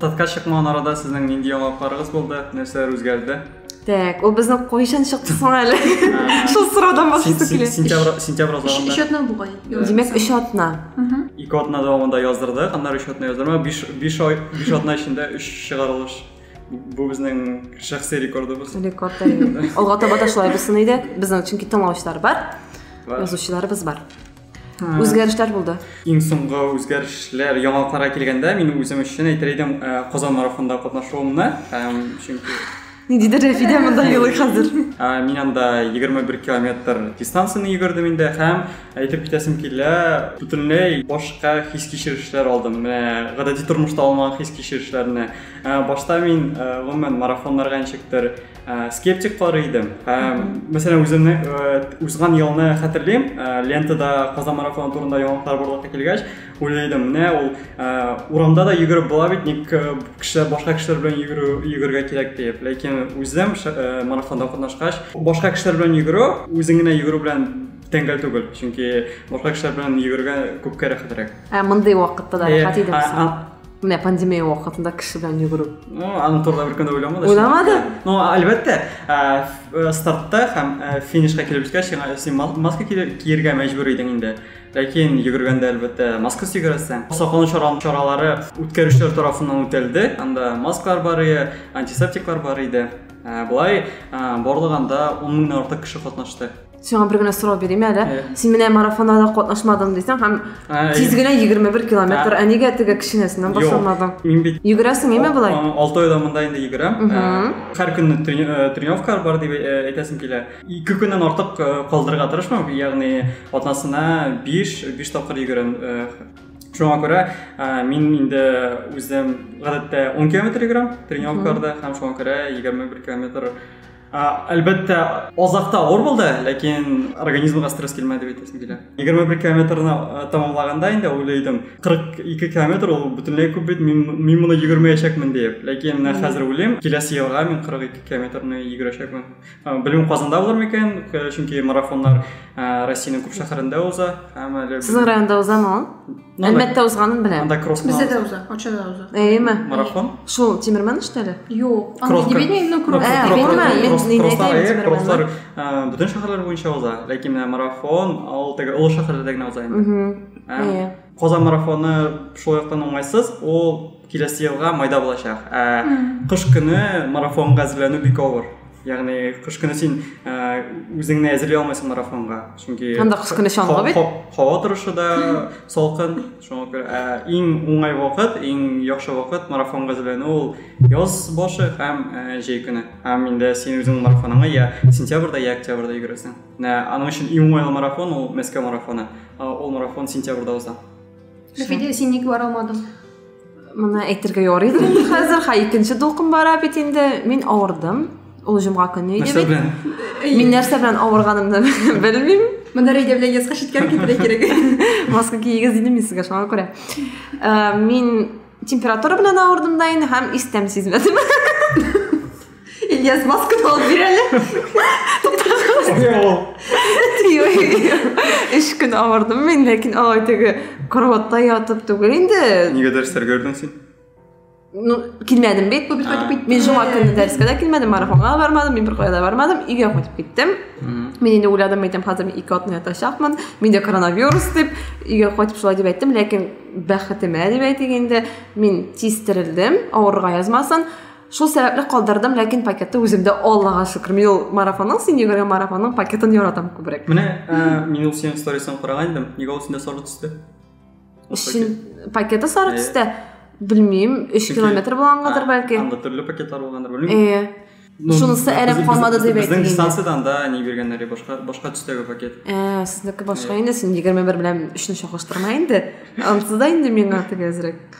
Татка чыкмаган арада сезнең нинди яңалыкларыгыз булды? Нәрсәләр үзгәрде? Так, ул безнең кайчан чыкты соң әле? Шул сораудан башласак килә. Сентябрь сентябрь азагында. Өч атна бугай. Димәк, өч атна. Ике атна дәвамында яздырдык, аннары өч атна яздырма, биш биш ай, биш атна эчендә өч чыгарылыш. Бу безнең шәхси рекордыбыз. Рекорд әйе. Алга таба да шулай булсын иде. Безнең чөнки тыңлаучылар бар, язучыларыбыз бар. үзгәрешләр булды иң соңгы үзгәрешләр яңалыкларга килгәндә мин үзем өчен әйтер идем казан марафонында катнашуымны чөнки ниндидер рәфидә монда елый хәзер мин анда егерме бер километр дистанцияны йөгердем инде һәм әйтеп китәсем килә бөтенләй башка хис кичерешләр алдым менә гадәти тормышта алмаган хис кичерешләрне башта мин гомумән марафоннарга ничектер Ә, скептик карый идем. Ә, мәсәлән, үземне э, узган елны хәтерлим, ә, лентада Казан марафоны турында яңалыклар барлыкка килгәч, уйлыйдым, менә ул ә, урамда да йөгереп була бит, ник э, кешеләр башка кешеләр белән йөгерү йөгергә кирәк дип. Ләкин үзем ш- э, марафонда катнашкач, башка кешеләр белән йөгерү, үзең генә йөгерү белән тәңгәл түгел, чөнки башка кешеләр белән йөгергә күпкә рәхәтрәк. Ә мондый вакытта да Э, рәхәт идеме а- соң? а- міне пандемия уақытында кіші белән жүгіру ну аны туралы бір күні ойламады ойламады ну әлбәттә ә, стартта һәм ә, финишқа килеп җиткәч син маска киергә мәҗбүр идең инде ләкин йөгергәндә әлбәттә маскасыз йөгерәсең саклану чаралары үткәрүчеләр тарафыннан үтәлде анда маскалар бар иде антисептиклар бар иде ә, болай ә, барлыгында он меңнән артык кеше катнашты сиңа бер генә сорау бирим әле син менә марафоннарда катнашмадың дисең һәм тиз генә егерме бер километр ә нигә теге кечкенәсеннән башламадың мин бит йөгерәсең име болай алты айдан монда инде йөгерәм һәр көнне тренировка бар дип әйтәсем килә ике көннән артык калдырырга тырышмам ягъни атнасына биш биш тапкыр йөгерәм шуңа күрә мин инде үзем гадәттә он километр йөгерәм тренировкаларда һәм шуңа күрә егерме бер километр әлбәттә азакта авыр булды ләкин организмга стресс килмәде бит әйтәсем килә егерме бер километрны тәмамлаганда инде уйлыйдым кырык ике километр ул бөтенләй күп бит мин моны йөгермәячәкмен диеп ләкин менә хәзер уйлыйм киләсе елга мин кырык ике километрны йөгерәчәкмен белмим казанда булыр микән чөнки марафоннар россиянең күп шәһәрендә уза һәм әле сезнең районда узамы ул Әлмәттә узганын беләм. Анда кросс Бездә дә уза, Арчада да уза. Әйеме? Марафон? Шул Тимерман что ли? Юк. Анда Дебедневның кросс. Кросслар бөтен шәһәрләр буенча уза, ләкин менә марафон ул теге олы шәһәрләрдә генә уза инде. Әйе. Казан марафоны шул яктан уңайсыз, ул Киләсе елга майда булачак. Ә кыш көне марафонга әзерләнү бик авыр. Ягъни кыш көне син үзеңне әзерли алмыйсың марафонга. Чөнки анда кыш көне чаңгы бит. Һава торышы да салкын. Шуңа күрә иң уңай вакыт, иң яхшы вакыт марафонга әзерләнү ул яз башы һәм җәй көне. Һәм инде син үзең марафоныңа я сентябрьдә, я октябрьдә йөгерәсең. Менә аның өчен иң уңайлы марафон ул Мәскәү марафоны. Ул марафон сентябрьдә уза. Рәфидә, син ник бара алмадың? Моны әйтергә ярый да инде хәзер. Ха, икенче дулкын бара бит инде. Мин авырдым. Ул җомга көне иде Нәрсә бит. белән? Мин нәрсә белән авырганымны белмим. Монда Рәйдә белән яска читкәр китерә кирәк. Маска киегез дидем мин сезгә шуңа күрә. Ә, Мин температура белән авырдым да инде һәм истәм сизмәдем. Ильяс масканы алып бир әле. Өч көн авырдым мин, ләкин алай теге кроватта ятып түгел инде. Нигә дәрестәр көрдең син? Ну, килмәдем бит, бу бит кайтып кит. Мин жума көнне дәрескә дә килмәдем, марафонга да бармадым, мин беркая да бармадым, өйгә кайтып киттем. Мин инде уйладым, әйтәм, хәзер мин ике атны ятачакмын, миндә коронавирус дип, өйгә кайтып шулай дип әйттем, ләкин бәхетемә дип әйтик инде, мин тиз терелдем, авырга язмасын. Шул сәбәпле калдырдым, ләкин пакетты үземдә Аллага шөкер. Мин ул марафонның син йөгергән марафонның пакетын яратам күбрәк. Менә э, мин ул синең сторисын караган идем. Нигә ул синдә сары төстә? Өчен пакеты сары төстә. Белмим, 3 километр булгангадыр бәлки. Анда төрле пакетлар булгандыр, белмим. Э. Ну, Шунысы әрәм калмады дип әйтте. Безнең дистанцияда анда не биргәннәр, башка башка төстәге пакет. Э, сезнеке башка инде, син 21 белән 3-ны чагыштырма инде. Ансыз да инде миңа тигәзрәк.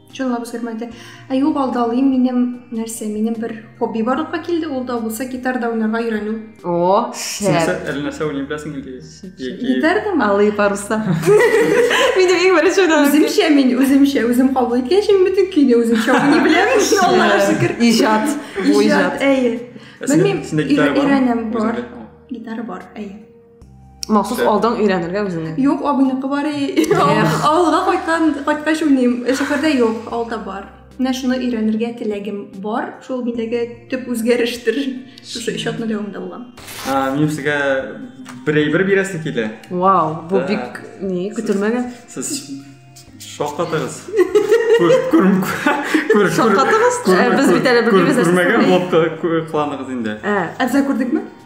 чынлап үзгәрмәде ә юк алдалыйм минем нәрсә минем бер хобби барлыкка килде ул да булса гитарда уйнарга өйрәнү о шәп әле нәрсә уйный беләсең инде гитардамы алые паруса минем иң беренче үземчә мин үземчә үзем кабул иткәнчә мин бөтен көйне үземчә уйный беләм аллага шөкер иҗат иҗат әйе белмим өйрәнәм бар гитара бар әйе Махсус алдан өйрәнергә үзеңә. Юк, абыйныкы бар. Авылга кайткан, кайткач уйныйм. Шәһәрдә юк, алда бар. Менә шуны өйрәнергә теләгем бар. Шул миндәге төп үзгәрештер. Шушы өч атны дәвамында булган. Мин сезгә бер әйбер бирәсе килә. Вау, бу бик ни, көтелмәгән. Сез шаккатыгыз. Шаккатыгыз? Без бит әле белмибез. Күрмәгән булып кыланыгыз инде. Ә, әзер күрдекме?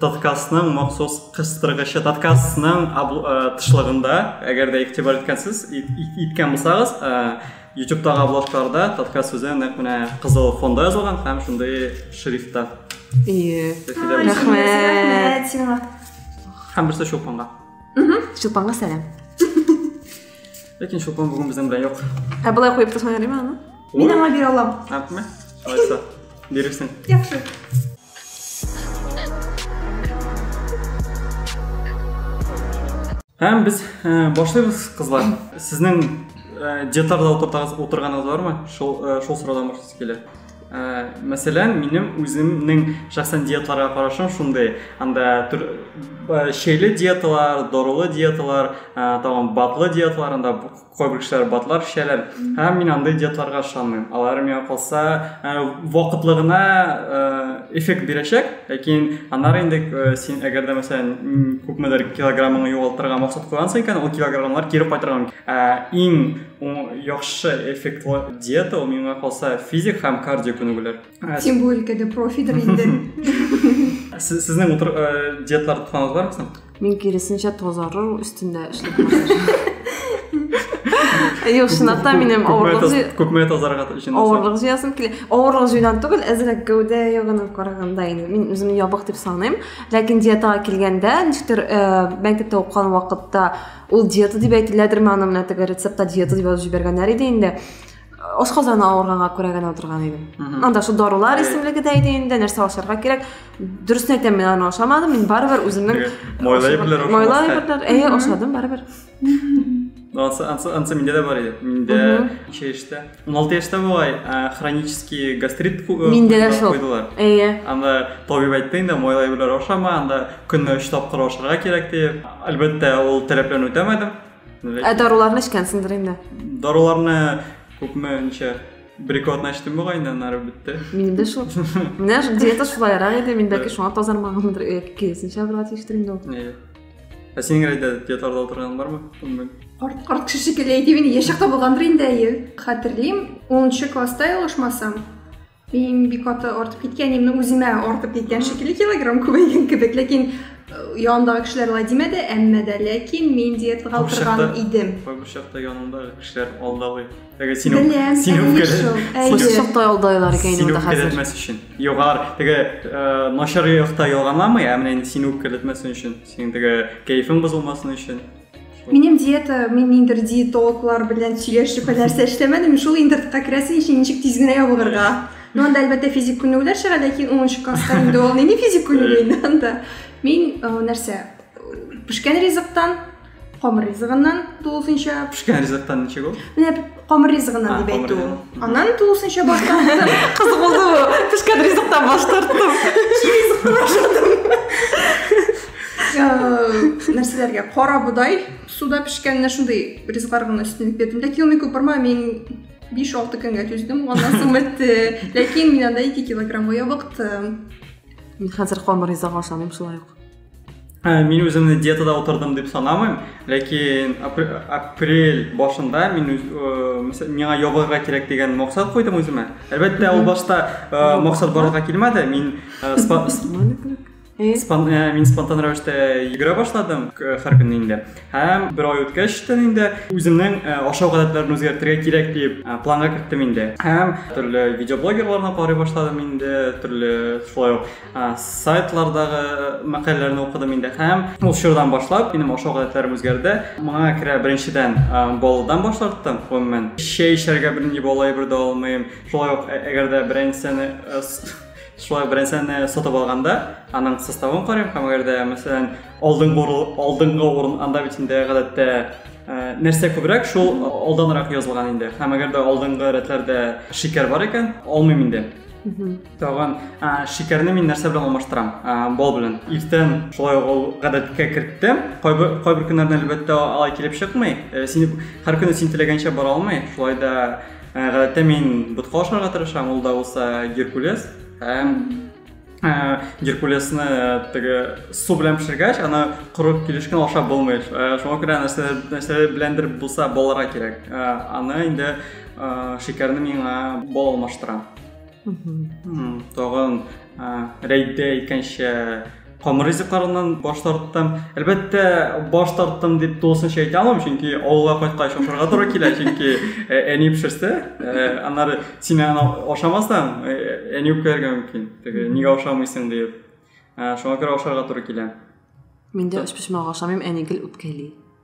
Таткасның махсус кыстыргычы, таткасның тышлыгында, әгәр дә игътибар иткәнсез, иткән булсагыз, YouTube-тагы обложкаларда Татка сүзе нәкъ менә кызыл фонда язылган һәм шундый шрифтта. Ие. Рәхмәт. Сиңа. Һәм берсе Чулпанга. Чулпанга сәлам. Ләкин Чулпан бүген безнең белән юк. Ә болай куеп тотмай аны? Мин аңа бирә алам. Әпме? Алайса, бирерсең. Яхшы. Һәм без э, башлыйбыз, кызлар. Сезнең э, детарда утыртагыз, утырганыгыз бармы? Шул э, шул сорадан башлыйсы килә. Э, мәсәлән, минем үземнең шәхсән диеталарга карашым шундый. Анда түр, э, шейле диеталар, дорылы диеталар, э, тагын батлы диеталар, анда Кайбер кешеләр батлар эчәләр. Һәм мин андый диетларга ышанмыйм. Алар миңа калса э, вакытлы гына э, эффект бирәчәк, ләкин аннары инде э, син әгәр дә мәсәлән күпмедер килограммыңны югалтырга максат куйгансың икән, ул килограммнар кире кайтырга мөмкин. Ә иң яхшы эффектлы диета ул миңа калса физик һәм кардио күнегүләр. Син бу өлкәдә профидер инде. Сезнең утыр диетлар тотканыгыз бармы? Мин киресенчә тазару өстендә эшләп Юк, чынлап та минем авырлык күпме тазарга өчен авырлык җыясым килә. Авырлык җыйдан түгел, әзрәк гәүдә ягына караганда инде. Мин үземне ябык дип саныйм. Ләкин диетага килгәндә, ничектер э, мәктәптә укыган вакытта ул диета дип әйтеләдерме, аны менә теге рецептта диета дип язып җибәргәннәр иде инде. ашказаны авырганга күрә генә утырган идем анда шул дарулар исемлеге дә иде инде нәрсә ашарга кирәк дөресен әйтәм мин аны ашамадым мин барыбер үземнең майлы әйберләр майлы әйберләр әйе ашадым барыбер анысы анысы анысы миндә дә бар иде миндә ничә яшьтә он алты яшьтә бугай хронический гастрит миндә дә шул куйдылар әйе анда табиб әйтте инде майлы әйберләр ашама анда көненә өч тапкыр ашарга кирәк дип әлбәттә ул таләпләрне үтәмәдем Ә даруларны эчкәнсеңдер инде. Даруларны күпме ничә бер ике атна эчтем бугай инде аннары бетте. Минем дә шул. Менә диета шулайрак иде, мин бәлки шуңа тазармаганмындыр, яки киресенчә бер ат иштер инде ул. Әйе. Ә синең рәйдә диеталарда утырган бармы? Күңел. Арт, арт кеше шикелле әйтеп инде, яшь чакта булгандыр инде әйе. Хәтерлим, 10 класста ялгышмасам, Иң бик каты артып киткән, именно үземә артып киткән шикелле килограмм күбәйгән кебек, ләкин э, янындагы кешеләр алай димәде, әмма дә ләкин мин диетага утырган идем. Бу чакта янындагы кешеләр алдалый. Теге син Беләм, син үпкәләр. Бу чакта алдайлар икән инде хәзер. Син үпкәләтмәс өчен. Югар, теге э, начар якта ялганламый, ә менә инде син үпкәләтмәсен өчен, синең теге кәефең бозылмасын өчен. Минем диета, мин ниндер диетологлар белән сөйләшеп нәрсә эшләмәдем, шул интернетка керәсең өчен ничек тиз генә ябыгырга. Ну, анда әлбәттә физик күнегүләр чыга, ләкин 10 класста инде ул нинди физик күнегү инде анда. Мин э, нәрсә? Пешкән ризыктан, камыр ризыгыннан тулысынча. Пешкән ризыктан ничек ул? Менә Камыр ризыгына дип әйтү. Аннан тулысынча баш тарттым. Кыз булды бу. Пешкән ризыктан баш тарттым. Ризыкны ашадым. Нәрсәләргә? Кара бодай, суда пешкән менә шундый ризыклар гына өстенлек бирдем. Ләкин ул мику барма, мин 5-6 көнгә түздем, аннан соң бетте. Ләкин мин анда 2 килограммга ябыктым. Мин хәзер камыр ризык ашамыйм шулай ук. Ә, мин үземне диетада утырдым дип санамыйм, ләкин апрель башында мин үз, ә, миңа ябылырга кирәк дигән максат куйдым үземә. Әлбәттә, ул башта ә, максат барлыкка килмәде. Мин ә, спа, спан, ә, мин спонтан рәвештә йөгерә башладым һәр көнне инде. Һәм бер ай үткәч тә инде үземнең ә, ашау гадәтләрен үзгәртергә кирәк дип ә, планга керттем инде. Һәм төрле видеоблогерларны карый башладым инде, төрле шулай ук сайтлардагы мәкаләләрне укыдым инде һәм ул чордан башлап минем ашау гадәтләрем үзгәрде моңа керә беренчедән балдан баш тарттым гомумән чәй эчәргә бернинди бала әйбер дә алмыйм шулай ук әгәр дә берәр нәрсәне шулай ук берәр нәрсәне сатып алганда аның составын карыйм һәм әгәр дә мәсәлән алдыңгы алдыңгы урын анда бит инде гадәттә нәрсә күбрәк шул алданрак язылган инде һәм әгәр дә алдыңгы рәтләрдә шикәр бар икән алмыйм инде Тагын шикәрне мин нәрсә белән алмаштырам? Бал белән. Иртән шулай ук ул гадәткә керттем. Кайбер кайбер көннәрдә әлбәттә алай килеп чыкмый. Э, син һәр көнне син теләгәнчә бара алмый. Шулай да э, гадәттә мин ботка ашарга тырышам, ул да булса геркулес. Һәм э, геркулесны теге су белән пешергәч, аны корып килешкән ашап булмый. Шуңа күрә нәрсә нәрсә беләндер булса баларга кирәк. Аны инде шикәрне миңа бал алмаштыра. тагын рәйдә икәнчә камыр ризыкларыннан баш тарттым әлбәттә баш тарттым дип тулысынча әйтә алмыйм чөнки авылга кайткач ашарга туры килә чөнки әни пешерсә аннары син аны ашамасаң әни үпкәләргә мөмкин теге нигә ашамыйсың диеп шуңа күрә ашарга туры килә мин дә өчпочмак ашамыйм әни гел үпкәли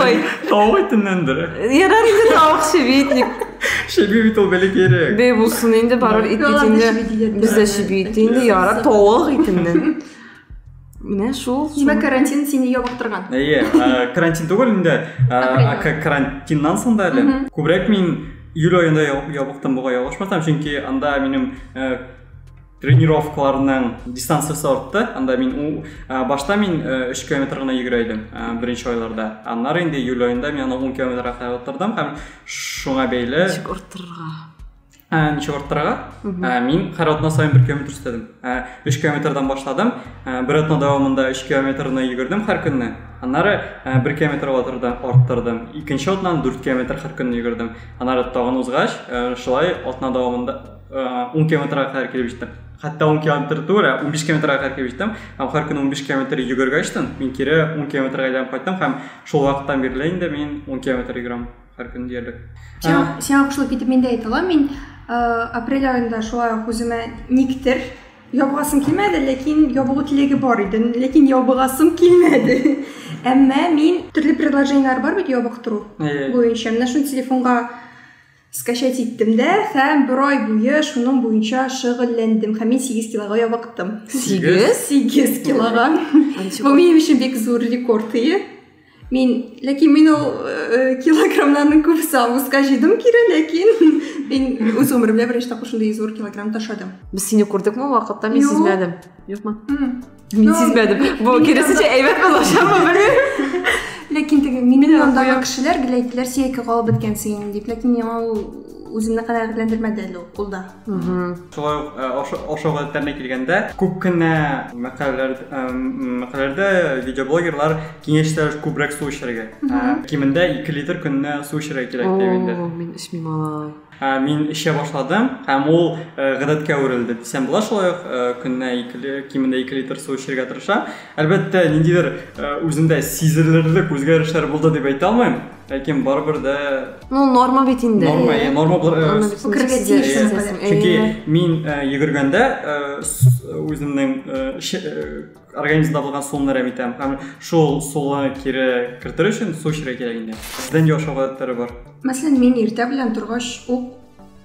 Ой. Тау итеннән дөрә. Ярар инде тау шебитник. Шеби бит ул бәләкәй кирәк. Бе булсын инде барыр ит бит инде. Бездә шеби ит инде ярар тавык итеннән. Менә шул. Димәк, карантин сине ябыктырган. Әйе, карантин түгел инде. Карантиннан соң да әле. Күбрәк мин июль аенда ябыктым бугай ялгышмасам, чөнки анда минем тренировкаларның дистанциясе артты анда мин у ә, башта мин ә, 3 километр гына йөгерә идем ә, беренче айларда аннары инде июль аенда мин аны 10 километрга кадәр арттырдым һәм шуңа бәйле ничек арттырырга ә, ничек арттырырга ә, мин һәр атна саен бер километр өстәдем ә, 3 километрдан башладым ә, бер атна дәвамында 3 километрны йөгердем һәр көнне аннары ә, бер километр арттырдым икенче атнаны 4 километр һәр көнне йөгердем аннары тагын узгач ә, шулай атна дәвамында 10 километрга кадәр килеп җиттем хәтта 10 километр түгел 15 километрга кадәр килеп җиттем һәм һәр көн 15 километр йөгергәчтен мин кире 10 километрга әйләнеп кайттым һәм шул вакыттан бирле инде мин 10 километр йөгерәм һәр көн диярлек сиңа кушылып китеп мин дә әйтә алам мин апрель айында шулай ук үземә никтер ябыгасым килмәде ләкин ябыгу теләге бар иде ләкин ябыгасым килмәде әмма мин төрле предложениелар бар бит ябыктыру буенча менә шуны телефонга Скачать иттем дә һәм бер ай буе шуның буенча шөгыльләндем һәм мин 8 килога ябыктым. 8? 8 килога. Бу минем өчен бик зур рекорд ие. Мин, ләкин мин ул э, килограммнарның күбесе августка җыйдым кире, ләкин мин үз гомеремдә беренче тапкыр шундый зур килограмм ташладым. Без сине күрдекме вакытта, мин Юк. сизмәдем. Юкмы? М. Мин сизмәдем. Бу киресенчә әйбәт булачакмы белмим. Ләкин теге минем янымдагы кешеләр гел әйттеләр, син ике калып беткәнсең инде дип. Ләкин миңа ул үземне канәгатьләндермәде әле ул кулда. Шулай ук э, ошо гадәтләренә килгәндә, күп кенә мәкаләләрдә э, видеоблогерлар киңәш итәләр күбрәк су эчәргә. Э, кимендә 2 литр көненә су эчәргә кирәк дип инде. Мин эчмим алай. Ә мин эчә башладым, һәм ул э, гадәткә әверелде дисәм була. Шулай ук э, көненә ике ли- кимендә ике литр су эчәргә тырышам. Әлбәттә, ниндидер э, үземдә сизелерлек үзгәрешләр булды дип әйтә алмыйм, ләкин барыбер дә Ну, норма бит инде. норма, Әйе. э, норма бу- э, Норма бит инде. Үкерергә Сизә- тиеш сизәсең. инде. Әйе. Чөнки мин э, йөгергәндә э, с- үземнең э, ше- э, организмда булган суны әрәм итәм һәм шул суны кире кертер өчен су эчәргә кирәк инде сездән нинди ашау гадәтләре бар мәсәлән мин иртә белән торгач ук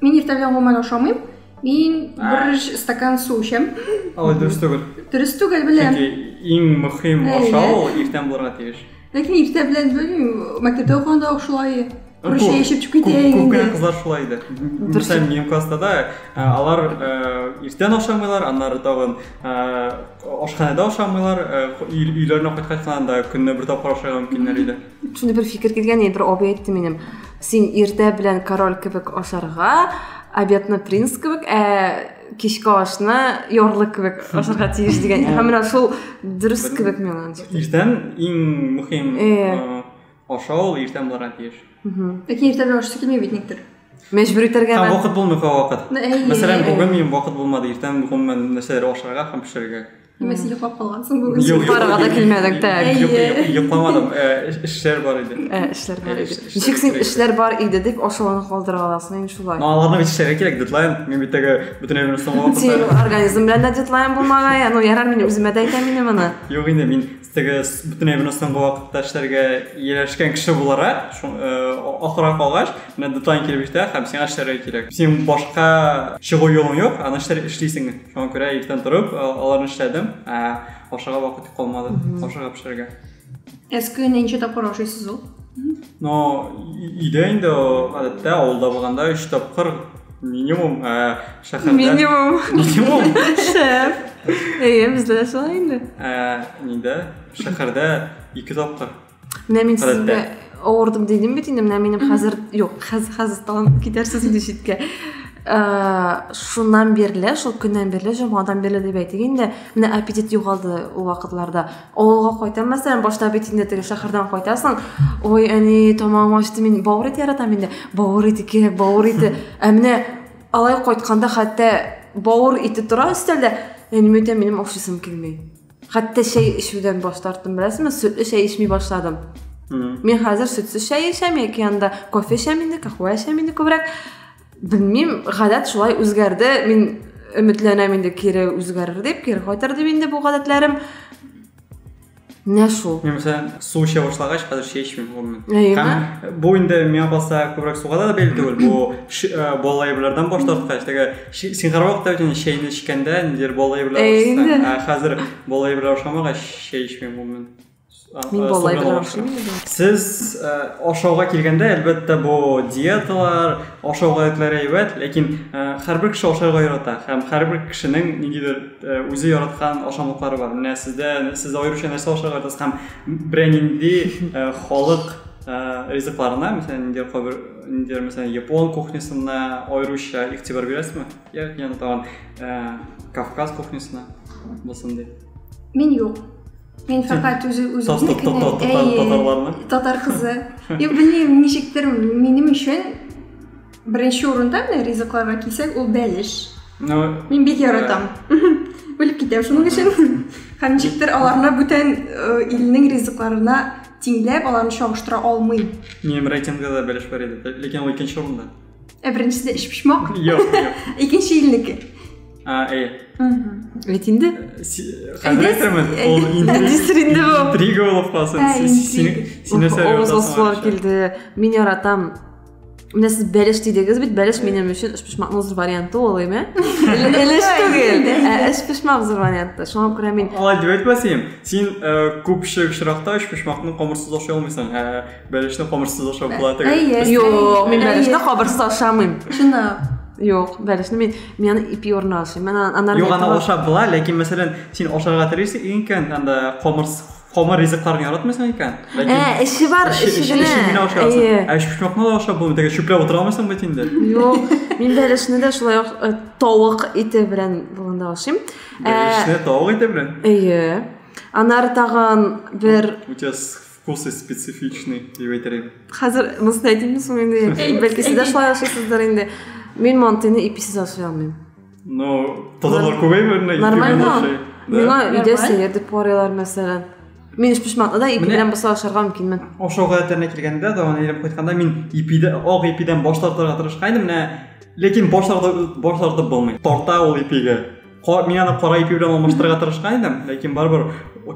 мин иртә белән гомумән ашамыйм мин бер стакан су эчәм алай дөрес түгел дөрес түгел беләм чөнки иң мөһим ашау ул иртән булырга тиеш Ләкин иртә белән белмим, мәктәптә укыганда ук шулай. Русия эчеп чүп китә инде. Күп кенә кызлар шулай иде. Мисал минем класста да алар иртән ашамыйлар, аннары тагын ашханәдә ашамыйлар, өйләренә кайткач кына да көнне бер тапкыр ашарга мөмкиннәр иде. Шуны бер фикер килгән, бер абый әйтте минем. Син иртә белән король кебек ашарга, обедны принц кебек, ә кичке ашны ярлы кебек ашарга тиеш дигән һәм менә шул дөрес кебек миңа иртән иң мөһим ашау иртән булырга тиеш ләкин иртән ашыйсы килми бит никтер мәҗбүр итәргә һәм вакыт булмый кай вакыт мәсәлән бүген минем вакыт булмады иртән гомумән нәрсәләр ашарга һәм пешерергә Нима син йоклап калгансың бүген? Юк, йокларга да килмәдең, так. Йокламадым, эшләр бар иде. Эшләр бар иде. Ничек син эшләр бар иде дип ашауны калдыра аласың инде шулай? Ну, аларны бит эшләргә кирәк, дедлайн. Мин бит теге бөтен өмрем соңга Син организм белән дә дедлайн булмагай. Ну, ярар, мин үземә дә әйтәм инде моны. Юк инде, мин теге бөтенләй выносыңгы вакытта эшләргә ияләшкән кеше буларак э, ахырга калгач менә дедлайн килеп җитә һәм сиңа эшләргә кирәк син башка чыгу юлың юк аны эшләр эшлисең шуңа күрә иртән торып э, аларны эшләдем ә ашарга вакыт калмады ашарга пешерергә әз көненә ничә тапкыр ашыйсыз ул но өйдә инде гадәттә авылда булганда өч тапкыр минимум ә, шәһәрдә минимум минимум шәп әйе бездә дә шулай инде ә, нидә шәһәрдә ике тапкыр менә мин сезгә авырдым дидем бит инде менә минем хәзер юк хәзер хәзер тагын китәрсез инде читкә ә, шуннан бирле шул көннән бирле җомгадан бирле дип әйтик инде менә аппетит югалды ул вакытларда авылга кайтам мәсәлән башта бит инде теге шәһәрдән кайтасың ой әни тамагым ачты мин бавыр ите яратам инде бавыр ите кирәк бавыр ите ә менә алай кайтканда хәтта бавыр ите тора өстәлдә әниме әйтәм минем ашыйсым килми хәтта чәй эчүдән баш тарттым беләсезме сөтле чәй эчми башладым мин хәзер сөтсез чәй эчәм яки анда кофе эчәм инде кахуә эчәм инде күбрәк белмим гадәт шулай үзгәрде мин өметләнәм инде кире үзгәрер дип кире кайтыр дип инде бу гадәтләрем менә шул мен мәсәлән су эчә башлагач хәзер чәй эчмим гомумән һәм бу инде миңа калса күбрәк суга да бәйле түгел бу балалы әйберләрдән баш тарткач теге син һәрвакыт та бит чәйне эчкәндә ниндидер балалы әйберләр ә хәзер балалы әйберләр ашамагач чәй эчмим гомумән Мин болай бер ашыйм. Сез ашауга килгәндә, әлбәттә, бу диеталар, ашау гадәтләре әйбәт, ләкин һәрбер кеше ашарга ярата һәм һәрбер кешенең ниндидер үзе яраткан ашамлыклары бар. Менә сездә, сез аеруча нәрсә ашарга яратасыз һәм берәй нинди халык ризыкларына, мәсәлән, ниндидер кайбер ниндидер, мәсәлән, япон кухнясына аеруча игътибар бирәсезме? Я, янтагын Кавказ кухнясына булсын дип. Мин юк. Мин фәкать үзе үземне кенә татарларны. Татар кызы. Я белмим, ничектер минем өчен беренче урында менә ризыкларга кисәк, ул бәлеш. Мин бик яратам. Үлеп китәм шуның өчен. Һәм ничектер аларны бүтән илнең ризыкларына тиңләп, аларны чагыштыра алмыйм. Минем рейтингда да бәлеш бар иде, ләкин ул икенче урында. Ә беренчесе өч почмак? Юк, юк. Икенче илнеке. А, әйе. Бит инде. Хәзер әйтермен, ул интрига булып калсын. Син нәрсә Авызласулар килде. Мин яратам. Менә сез бәлеш дидегез бит, бәлеш минем өчен өч почмакның зур варианты ул, әйме? Элеш түгел, ә өч почмак зур варианты. Шуңа күрә мин Алай дип әйтмәсәм, син күпчелек очракта өч почмакны камырсыз ашый алмыйсың. Бәлешне камырсыз ашап була теге. Әйе. Юк, мин бәлешне кабырсыз ашамыйм. Чынлап. Юк, бәлешне мин мин аны ипи орны ашыйм. Мен анар Юк, аны ашап була, ләкин мәсәлән, син ашарга телисең икән, анда камырс камыр ризыкларны яратмыйсың икән. Ә, эше бар, эше генә. Әйе. Ә шушмакны да ашап булмый, теге чүпләп утыра алмыйсың бит инде. Юк, мин бәлешне дә шулай ук э, тавык ите белән булганда ашыйм. Бәлешне э, тавык ите белән? Әйе. Анар тагын бер... Үтес Вкусы специфичный дип әйтер идем. Хәзер монсын әйтимме соң инде? Бәлки сез дә шулай ашыйсыздыр инде. Мин мантыйны иписез ашый алмыйм. Ну, тазалар күбәйме? Нормально. Миңа өйдә сәер дип карыйлар, мәсәлән. Мин эш пешмәтне дә ипи белән буса ашарга мөмкинмен. Ашау гадәтләренә килгәндә, даван ирем кайтканда мин ипидә, ак ипидән баш тартырга тырышкан идем, менә ләкин баш тартып баш тартып булмый. Тарта ул ипигә. мин аны кара ипи белән алмаштырырга тырышкан идем ләкин барыбер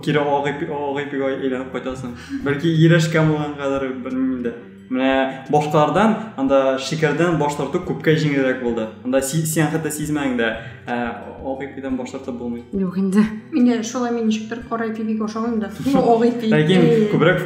кире ак ипи ак ипигә әйләнеп кайтасың бәлки ияләшкән булгангадыр белмим инде менә башкалардан анда шикәрдән баш тарту күпкә җиңелрәк булды анда син хәтта сизмәдең дә ак ипидән баш тартып булмый юк инде менә шулай мин ничектер кара ипи бик ашамыйм да ак ипи ләкин күбрәк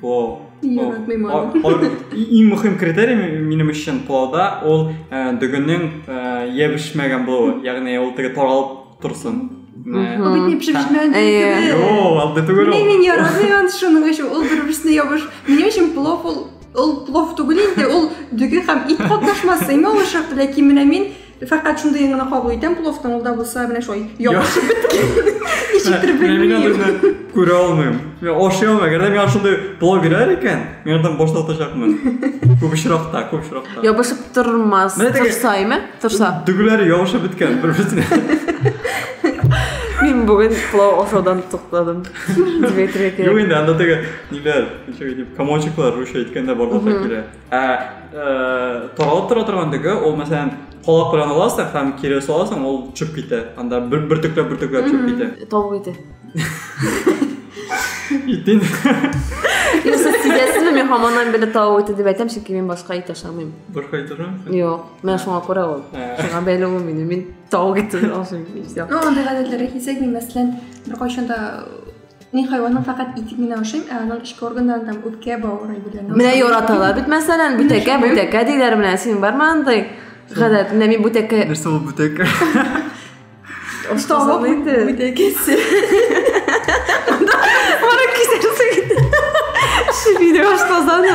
пылау яратмый иң мөһим критерий минем өчен пылауда ул э, дөгенең э, ябешмәгән булуы ягъни ул теге таралып торсын Обиднее пшебжмян. Йоу, алды түгел ул. Мин ярамыйм шуның өчен. Ул бер-берсенә ябыш. Минем өчен плов ул ул плов түгел инде, ул дөге һәм ит катнашмасы. Иң алышак, ләкин менә мин Фәкать шундый гына кабул итәм пловтан, ул да булса менә шулай ябышып беткән. Ничектер белмим. Күрә алмыйм. Мин ашый алмыйм. Әгәр дә миңа шундый плов бирәр икән, мин андан баш тартачакмын. Күп очракта, күп очракта. Ябышып тормас. Торса, әйме? Торса. Дүгеләре ябышып беткән бер-берсенә. Мин бүген плов ашаудан туктадым. Дмитрий. Юк инде, анда теге ниләр, ничек дип, комочеклар русча әйткәндә барлыкка килә. Ә таралып тора торган дөге, ул мәсәлән колак белән аласың һәм кире саласың, ул чүп китә. Анда бер бөртекләп бөртекләп чүп китә. Тавык ите. Итен. Юсуф сидәсезме? Мин хаманнан бер тавык ите дип әйтәм, чөнки мин башка ит ашамыйм. Башка ит ашамыйсың? Юк, менә шуңа күрә ул. Шуңа бәйле ул минем. Мин тавык ите ашыйм. Ну, андый гадәтләргә килсәк, мин мәсәлән, беркайчан да Мин хайванның фәкать итен генә ашыйм, ә аның эчке органнарын там үпкә, бавыр әйберләрен. Менә яраталар бит мәсәлән, бүтәкә, бүтәкә диләр менә, син бармы андый? Гадәт, менә мин бүтәкә. Нәрсә ул бүтәкә? Оштавы инде. Бүтәкәсе. Мара кисәрсең. Шибине баштазаны.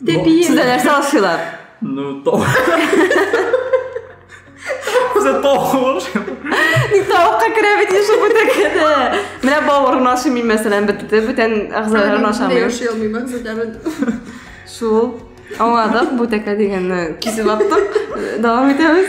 Дәбия. Сез дә нәрсә ашыйлар? Ну, то. Сез тавык. Ник тавыкка керә бит ише бу тәкәдә. Менә бавырын ашымыйм мәсәлән, бетте, бүтән әгъзаларын ашамыйм. Яши алмыйм, бүтән. Шул. Аңладык, бу тәкә дигәнне кисеп аттык. Дәвам итәбез.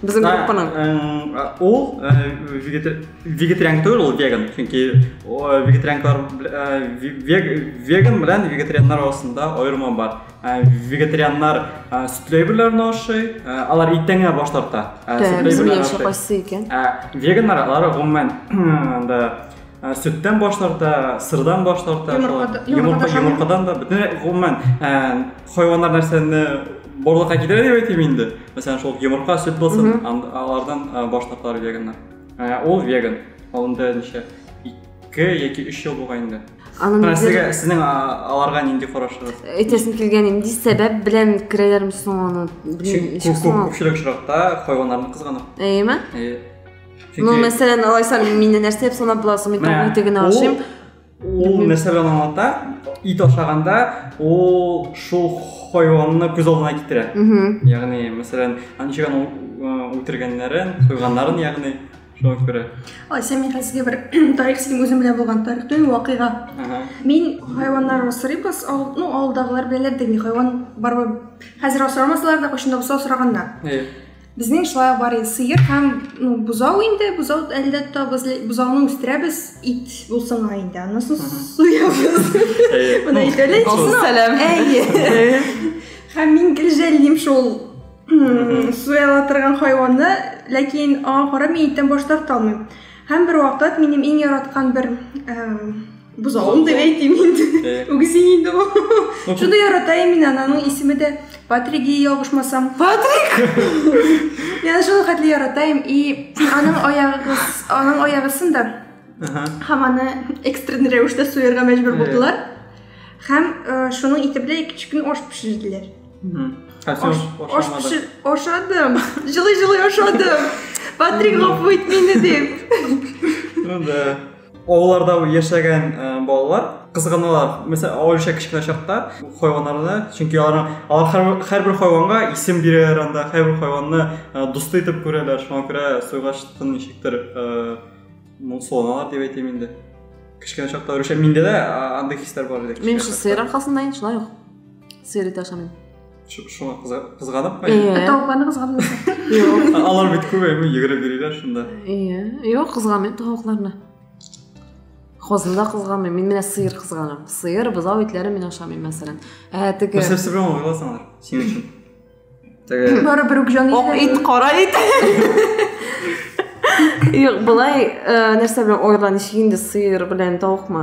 Безнең группаның. Э, ул э, вегетариан түгел, ул веган. Чөнки вегетарианлар э, веган белән вегетарианнар арасында аерма бар. Вегетарианнар сөтле әйберләрне ашый, алар иттән генә баш тарта. Сөтле әйберләрне кайсы икән? Веганнар алар гомумән анда сөттән баш тарта, сырдан баш тарта, йомыркадан да, бөтен гомумән Хайваннар нәрсәне барлыкка китерә дип әйтим инде. Мәсәлән, шул йомырка, сөт булсын, алардан баш тарталар веганнар. Ә ул веган. Алында ничә? 2 яки 3 ел булган инде. Аның сезгә сезнең аларга нинди карашыгыз? Әйтәсем килгән инде сәбәп белән керәләрме соң аны? Чөнки күпчелек очракта хайваннарны кызганып. Әйеме? Әйе. Ну, мәсәлән, алайса мине нәрсә дип санап буласың? Мин тагын тегене ашыйм. ул мәсәлән аңлата ит ашаганда ул шул хайванны күз алдына китерә ягъни мәсәлән ничек аны үтергәннәрен сойганнарын ягъни шуңа күрә ой сән мин хәзер бер тарих синең үзең белән булган тарих түгел вакыйга мин хайваннар асрыйбыз ну авылдагылар беләләр дә мин хайван барыбер хәзер асрамасалар да кайчан да булса асраганнар Безнең шулай бар инде, сыер һәм ну, бозау инде, бозау әле дә тотабыз, бозауны үстерәбез, ит булсын ла инде, анысын суябыз. Моны әйтәле. Сәлам. Әйе. Һәм мин гел жәллим шул суяла торган хайванны, ләкин аңа карап мин иттән баш тарта алмыйм. Һәм бер вакыт минем иң яраткан бер Бозауын да әйтим инде. Үгез инде ул. Шуны ярата мин аның исеме дә Патрик и ялгышмасам. Патрик! Мин шуны хәтле яратам и аның аягы аның аягысын да һәм аны экстренный рәвештә суярга мәҗбүр булдылар. Һәм шуның итебле икенче көн аш пешерделәр. Ашадым. Җылы-җылы ашадым. Патрик гафу ит мине дип. Ну да. Авылларда яшәгән э, балалар кызганалар. Мәсәлән, аулыча кечкенә чакта хайваннарны, чөнки алар алар һәрбер хайванга исем бирәләр анда, һәрбер хайванны э, дусты итеп күрәләр. Шуңа күрә суйгач тын ничектер э, моңсуланалар дип әйтәм инде. Кечкенә чакта рүшә миндә дә андый хисләр бар иде. Мин сыйр аркасында инде шулай ук. Сыйр итә ашамыйм. шуңа кызганып ма иә тавыкларны кызганып алар бит күп әйме йөгереп йөриләр шунда иә юк кызганмыйм тавыкларны хозны да кызганмыйм мин менә сыер кызганам сыер бозау итләрен мин ашамыйм мәсәлән ә теге нәрсә нәрсә белән алып аласың алар синең өчен теге барыбер үк җан ак ит кара ит юк былай нәрсә белән ойла ничек инде сыер белән тавыкмы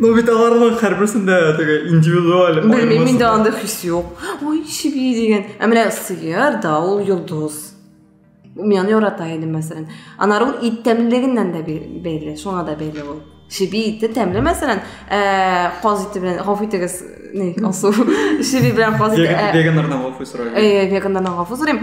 Ну бит аларның һәрберсендә теге индивидуаль белмим миндә андай хис юк ой чеби дигән ә менә сыер да ул йолдыз мин аны ярата идем мәсәлән анары ул ит тәмлелегеннән дә бәйле шуңа да бәйле ул чеби ите тәмле мәсәлән каз ите белән гафу итегез алсу чеби белән каз ите веганнардан гафу сорыйм веганнардан гафу сорыйм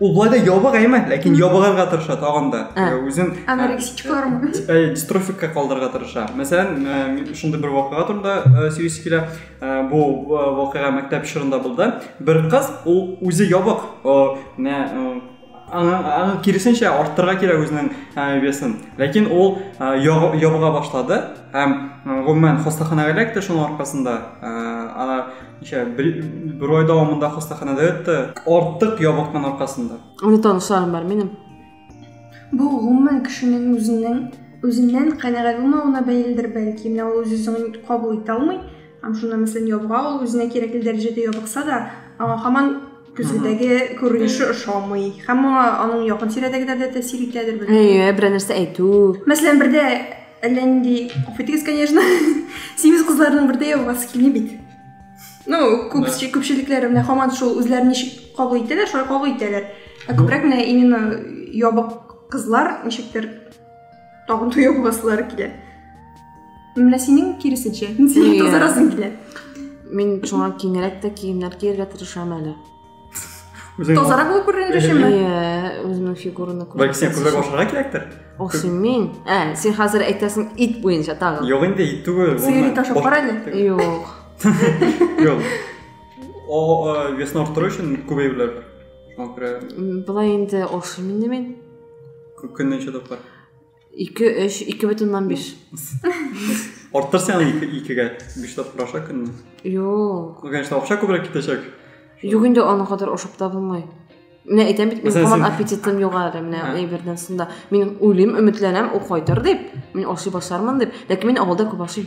ул былай да ябык әйме ләкин ябыгарга тырыша тагын да ә. Э, үзен э, анорексикалармы э, дистрофикка калдырырга тырыша мәсәлән шундый бер вакыйга турында сөйлисе килә бу вакыйга мәктәп чорында булды бер кыз ул үзе ябык аны киресенчә арттырырга кирәк үзенең весен ләкин ул ябыга башлады һәм гомумән хастаханәгә эләкте шуның аркасында ничә бер, бер ай дәвамында хастаханәдә ятты артык ябыкмын аркасында аны танышларым бар минем бу гомумән кешенең үзенең үзеннән канәгать булмавына бәйледер бәлки менә ул үз үзен кабул итә алмый һәм шунда мәсәлән ябыга ул үзенә кирәкле дәрәҗәдә ябыкса да аңа һаман Көзгедәге күренеше ошамый. Һәм моңа аның якын тирәдәгеләр дә тәэсир итәдер бит. Әйе, берәр нәрсә әйтү. Мәсәлән, бердә әллә нинди, афитегез, конечно, симез кызларның бердә явасы килми бит. Ну, күп күпчелекләре менә хаман шул үзләрен ничек кабул итәләр, шулай кабул итәләр. Ә күбрәк менә именно ябык кызлар ничектер Тагын туя буласылары килә. Менә синең киресенчә. Син тозарасың килә. Мин шуңа киңрәк тә киемнәр кияргә тырышам әле. Тазарак булып күренә төшеме? Иә, үземнең фигураны күрә. Бәлки сиңа күбрәк ашарга кирәктер? Охсы мин. Ә, син хәзер әйтәсең ит буенча тагы. Юк инде, ит түгел. Сыйыр ит ашап кара әле. Юк. Юк. О, весны арттыру өчен күбәюләр. Шуңа күрә. Былай инде охсы мин Көнне ничә тапкыр? Ике, өч, ике бөтен уннан биш. Арттыр сен аны икегә, биш тапкыр аша көнне. Юк. Ну, конечно, акча күбрәк китәчәк. Юк инде аны кадәр ашап та булмый. Менә әйтәм бит, минем һаман аппетитым юк әле, менә әйбердән сында. Мин уйлыйм, өметләнәм, ул кайтыр дип, мин ашый башлармын дип, ләкин мин авылда күп ашыйм.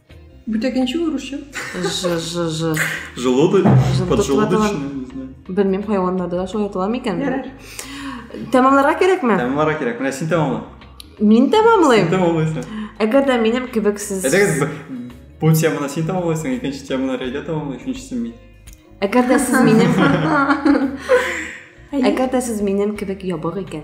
Бүтәкенче урысча. Ж ж ж. Желудок, Желудок поджелудочный, ватылган. не знаю. Белмим, хайваннарда да шулай атала микән? Ярар. Тәмамларга кирәкме? Тәмамлара кирәк. Менә син тәмамла. Мин Син тәмамлыйм. тәмамлыйсың. Әгәр дә минем кебек сез Әйдәгез, б- бу теманы син тәмамлыйсың, икенче теманы Рәйдә тәмамлый, өченчесен мин. Әгәр дә сез минем Әгәр дә сез минем кебек ябык икән,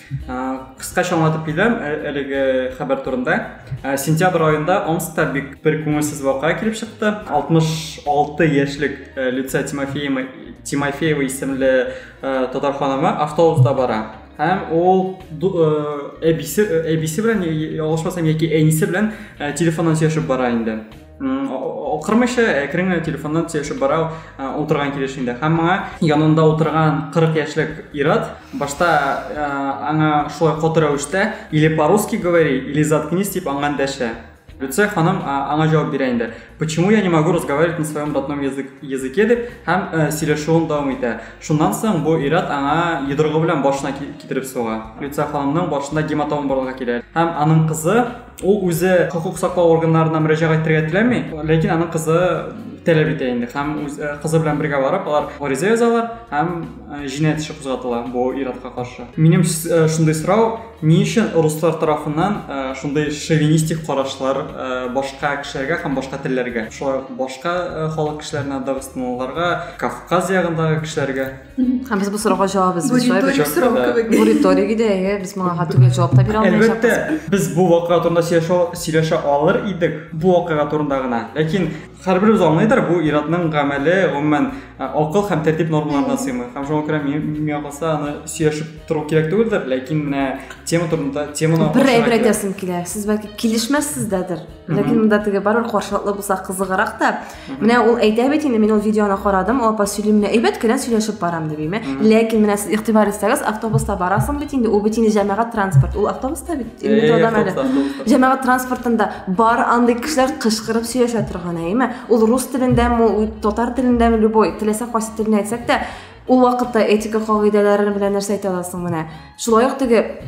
Кыскача аңлатып китәм ә, әлеге хәбәр турында. Ә, сентябрь аенда Омскта бик бер күңелсез вакыйга килеп чыкты. 66 яшьлек ә, Люция Тимофеева, Тимофеева исемле ә, татар ханымы автобуста бара. Һәм ул әбисе, әбисе белән, ялгышмасам, яки әнисе белән телефоннан сөйләшеп бара инде. Укырмыйча әкрен генә телефоннан сөйләшеп бара утырган килешендә. Һәм моңа янында утырган 40 яшьлек ират башта аңа шулай каты рәвештә или по-русски говори, или заткнись дип аңа дәшә. Люция ханым аңа җавап бирә инде. Почему я не могу разговаривать на своем родном язык, языке дип һәм сөйләшүен дәвам итә. Шуннан соң бу ират аңа йодрыгы белән башына китереп суга. Люция ханымның башында гематома барлыкка килә. Һәм аның кызы Ул үзе хокук саклау органнарына мөрәҗәгать итәргә теләми, ләкин аның кызы таләп итә инде һәм үз э, кызы белән бергә барып алар гариза язалар һәм э, җинаять эше кузгатыла бу иратка каршы минем э, шундый сорау ни өчен руслар тарафыннан шундый шовинистик карашлар башка кешеләргә һәм башка телләргә шулай башка халык кешеләренә дагыстанлыларга кавказ ягындагы кешеләргә Һәм без бу сорауга җавап эзлибез, шулай бит? Риторик сорау кебек. Бу риторик иде, әйе, без моңа га түгел җавап та бирә алмыйча. Әлбәттә, без бу вакыйга турында сөйләшә, сөйләшә алыр идек, бу вакыйга турында гына. Ләкин һәрберебез аңлыйдыр, бу иратның гамәле, гомумән, акыл һәм тәртип нормаларына сыймый. Һәм шуңа күрә миңа калса, аны сөйләшеп тору кирәк түгелдер, ләкин менә тема турында теманы Бер әйбер әйтәсем килә. Сез бәлки килешмәссез дәдер, ләкин монда теге барыбер каршылыклы булса кызыграк та. Менә ул әйтә бит инде, мин ул видеоны карадым, ул апа сөйли, менә әйбәт кенә сөйләшеп барам дип име. Ләкин менә сез игътибар итсәгез, автобуста барасың бит инде, ул бит инде җәмәгать транспорт, ул автобуста бит, э, метродан әле. Җәмәгать транспортында бар андый кешеләр кычкырып сөйләшә торган, әйме? Ул рус телендәме, ул татар телендәме, любой, теләсә кайсы телне әйтсәк тә, ул вакытта этика кагыйдәләре белән нәрсә әйтә аласың менә. Шулай ук теге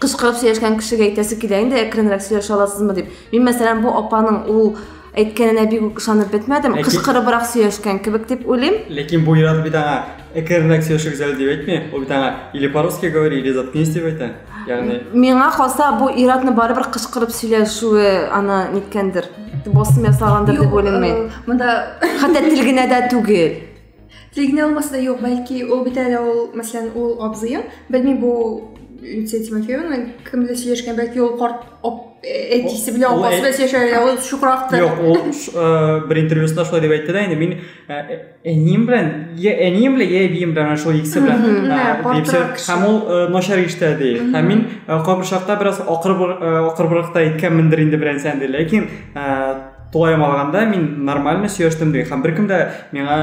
кычкырып сөйләшкән кешегә әйтәсе килә инде әкренрәк сөйләшә аласызмы дип мин мәсәлән бу апаның ул әйткәненә бик үк ышанып бетмәдем Ләкин... кычкырыбрак сөйләшкән кебек дип уйлыйм ләкин бу ир-ат бит аңа әкренрәк сөйләшегез әле дип әйтми ул бит аңа или по русски говори или заткнись дип әйтә ягъни миңа калса бу ир-атны барыбер кычкырып сөйләшүе аны ниткәндер басым ясаганdır дип уйлыйм мин мында хәтта тел генә дә түгел Регина алмаса да юк, бәлки ул бит әле ул, мәсәлән, ул абзыем, белмим бу Люция Тимофеевна кем белән сөйләшкән, бәлки ул карт әтисе белән апасы белән сөйләшә, ул шукрактыр. Юк, ул э, бер интервьюсында шулай дип әйтте дә, инде мин э, әнием белән, я әнием белән, я әбием белән шул икесе белән. Һәм ул э, начар иштә ди. Һәм мин кайбер чакта бераз акырбракта әйткәнмендер инде берәнсән ди, ләкин тулаем алганда мин нормально сөйләштем ди һәм беркем дә миңа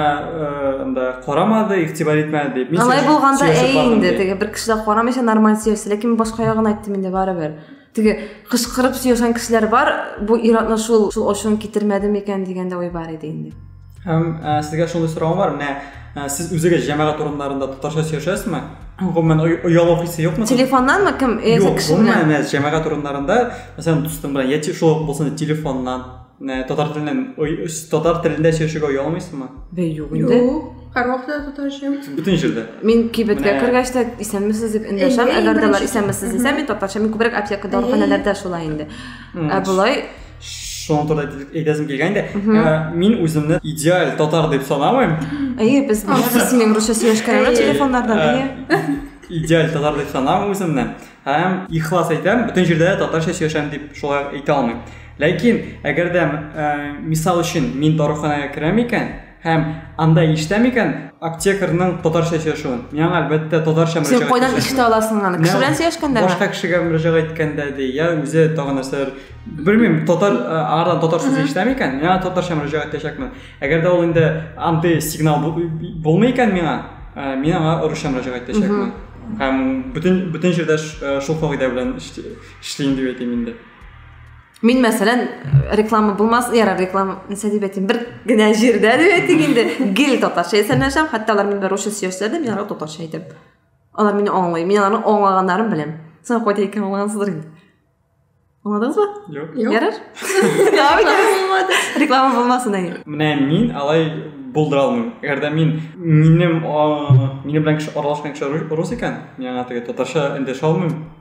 анда э, карамады игътибар итмәде дип алай булганда әй инде теге бер кеше дә карамыйча нормаль сөйләште ләкин башка ягын айттым инде барыбер теге кычкырып сөйләшкән кешеләр бар бу ир-атны шул шул ачуын китермәдеме икән дигән дә ой бар иде инде Һәм ә, э, сезгә шундый сорау бар, менә ә, э, сез үзегез җәмәгать урыннарында татарча сөйләшәсезме? Гомумән оялу хисе юкмы? Телефоннанмы кем? Э, Юк, гомумән менә җәмәгать урыннарында, мәсәлән, дустың белән яки шул булсын телефоннан, менә татар теленнән татар телендә сөйләшергә оялмыйсызмы? Бе, юк инде. Юк. Һәрвакытта татарча. Бүтән җирдә. Мин кибеткә кергәч тә исәнмесез дип эндәшәм. Әгәр дә алар исәнмесез дисә, мин татарча, мин күбрәк аптекада, даруханәләрдә шулай инде. Ә болай шуны турында әйтәсем килгән инде ә, мин үземне идеаль татар дип санамыйм әйе без без синең русча сөйләшкәнебез телефоннардан әйе идеаль татар дип санамыйм үземне һәм ихлас әйтәм бөтен җирдә дә татарча сөйләшәм дип шулай әйтә алмыйм ләкин әгәр дә ә, мисал өчен мин даруханәгә керәм икән Һәм анда ишетә микән аптекарның татарча сөйләшүен? Миңа әлбәттә татарча мөрәҗәгать. Син кайдан ишетә аласың аны? Кеше белән сөйләшкәндә? Башка кешегә мөрәҗәгать иткәндә ди, я үзе тагы нәрсәләр. Белмим, татар ардан татар сүзе ишетә микән? Миңа татарча мөрәҗәгать итәчәкмен. Әгәр дә ул инде андый сигнал булмый икән миңа, мин аңа русча мөрәҗәгать итәчәкмен. Һәм бөтен бөтен җирдә шул кагыйдә белән эшлим дип әйтим инде. Мин мәсәлән, реклама булмас, ярар реклама, нәрсә дип әйтим, бер генә җирдә дип әйтик инде, гел татарча исәнләшәм, хәтта алар мине русча сөйләсәләр мин аларга татарча әйтәм. Алар мине аңлый, мин аларның аңлаганнарын беләм. Сез кайда икән аңлагансыздыр инде. Аңладыңызбы? Юк. Ярар. Реклама булмасын әйе. Менә мин алай булдыра алмыйм. Әгәр дә мин минем минем белән кеше аралашкан кеше рус икән, мин аңа теге татарча эндәшә алмыйм.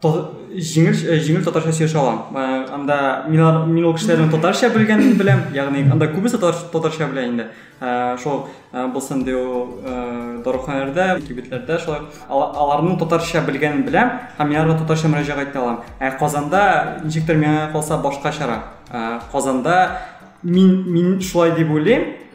җиңел э, җиңел татарча сөйләшә алам э, анда мин мин ул кешеләрнең татарча белгәнен беләм ягъни анда күбесе татарча белә инде э, шул булсын ди ул даруханәләрдә кибетләрдә шулай аларның татарча белгәнен беләм һәм мин аларга татарча мөрәҗәгать итә алам ә казанда ничектер миңа калса башкачарак казанда мин мин шулай дип уйлыйм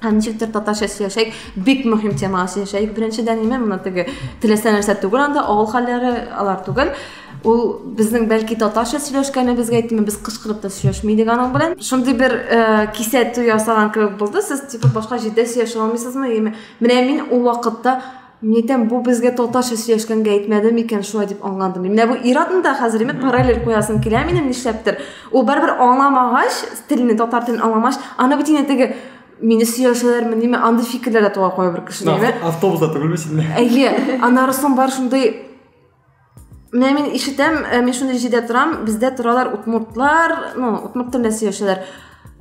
Һәм ничектер татарча сөйләшәк, бик мөһим темага сөйләшәк. Беренчедән ниме моны теге теләсә нәрсә түгел, анда авыл хәлләре алар түгел. Ул безнең бәлки татарча сөйләшкәнебезгә әйтми, без кычкырып та сөйләшми идек аның белән. Шундый бер э, кисәтү ясаган кебек булды. Сез типа башка җирдә сөйләшә алмыйсызмы? Яме, менә мин ул вакытта Мин әйтәм, бу безгә татарча сөйләшкәнгә әйтмәде микән шулай дип аңладым. Менә бу иратны да хәзер мен параллель куясым килә минем нишләптер. Ул барыбер аңламагач, телне татар телен аңламагач, аны бит инде теге мине сөйләшәләрме ниме андый фикерләр дә туа куя бер кешедә. Автобуста түгелме син? Әйе, аннары соң бар шундый Менә мин ишетәм, э, мин шундый җирдә торам, бездә торалар утмуртлар, ну, утмурт телендә сөйләшәләр.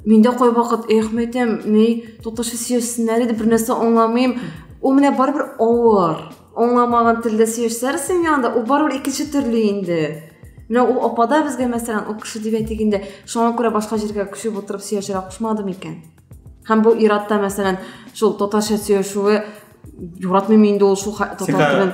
Мин дә кайвакыт, эх, мәйтәм, ни, татарча сөйләшсеннәр иде, бернәрсә аңламыйм. Ул менә барыбер авыр. Аңламаган телдә сөйләшсәләр синең янында, ул барыбер икенче төрле инде. Менә ул апада безгә, мәсәлән, ул кеше дип әйтик инде, шуңа күрә башка җиргә күчеп утырып сөйләшергә кушмадым икән. Һәм бу иратта, мәсәлән, шул татарча сөйләшүе Юратмыйм инде ул шул татар телен.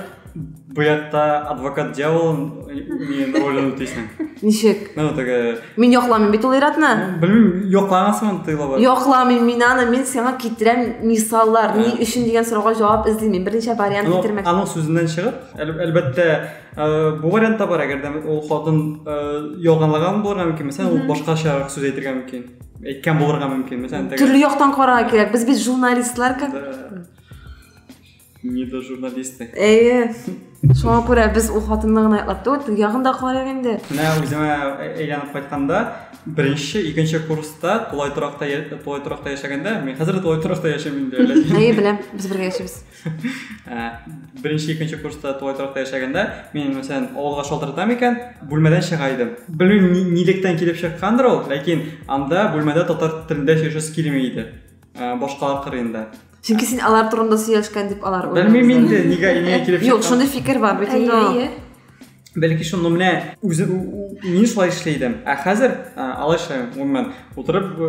Бу ятта адвокат дьявол мин ролен үтисең. Ничек? Ну, теге Мин якламыйм бит ул иратны. Белмим, якламасмын тыйла бар. Якламыйм мин аны, мин сиңа китерәм мисаллар, ни өчен дигән сорауга җавап эзлим. Мин берничә вариант китермәк. Аның сүзеннән чыгып, әлбәттә, бу вариант та бар, әгәр дә ул хатын ялганлаган булырга мөмкин, мәсәлән, ул башкачарак сүз әйтергә мөмкин. әйткән булырга мөмкин төрле яктан карарга кирәк без бит журналистлар как не до журналисты әйе шуңа күрә без ул хатынны гына яклап түгел теге ягын да карыйк инде менә үземә әйләнеп кайтканда беренче икенче курста тулай торакта тулай торакта яшәгәндә мин хәзер дә тулай торакта яшим инде әйе беләм без бергә яшибез бірінші екінші курста тулай торақта яшәгәндә мен мәсәлән авылга шалтыратам икән бүлмәдән чыга идем белмим нилектән килеп чыккандыр ул ләкин анда бүлмәдә татар телендә сөйләшәсе килми иде башкалар кырыенда чөнки син алар турында сөйләшкән дип алар белмим инде нигә нигә килеп чыккан юк шундый фикер бар бит инде бәлки шуны менә үзе мин шулай эшли идем ә хәзер алайша гомумән утырып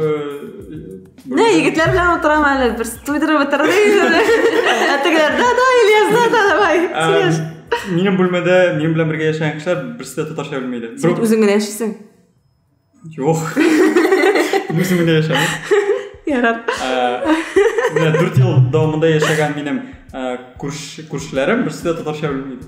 не егетләр белән утырам әле бер туйдырып бетердек ә тегеләр да да ильяс да да давай сөйләш минем бүлмәдә минем белән бергә яшәгән кешеләр берсе дә татарча белми иде син үзең генә яшисең Жоқ. Өзімде яшәмін. Ярар. Менә 4 ел дәвамында яшәгән минем күршеләрем берсе дә татарча белмейді.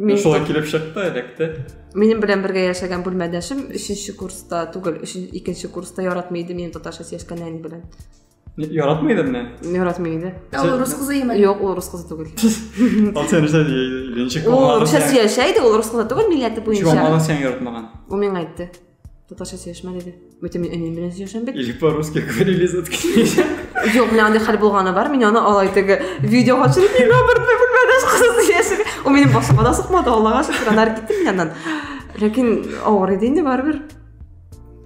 Мин шулай килеп чыкты, эләкте. Минем белән бергә яшәгән бүлмәдәшем 3 курста түгел, 2 курста яратмый иде минем татарча сөйләшкән әни белән. Яратмый иде менә. Яратмый иде. Ә ул рус кызы имени? Юк, ул рус кызы түгел. Ал сен русча ничек Ул русча сөйләшә иде, ул рус кызы түгел милләте буенча. Чума аны сен яратмаган. Ул миңа әйтте. Татарча сөйләшмә диде. Бүтән мин әнием белән сөйләшәм бит. Или по-русски говорили за Юк, менә андый хәл булганы бар. Мин аны алай теге видео качырып миңа бер бүлмәдә кызы сөйләшә. Ул минем башыма да сукмады, Аллага шөкер, анар китте миннән. Ләкин авыр иде инде барыбер.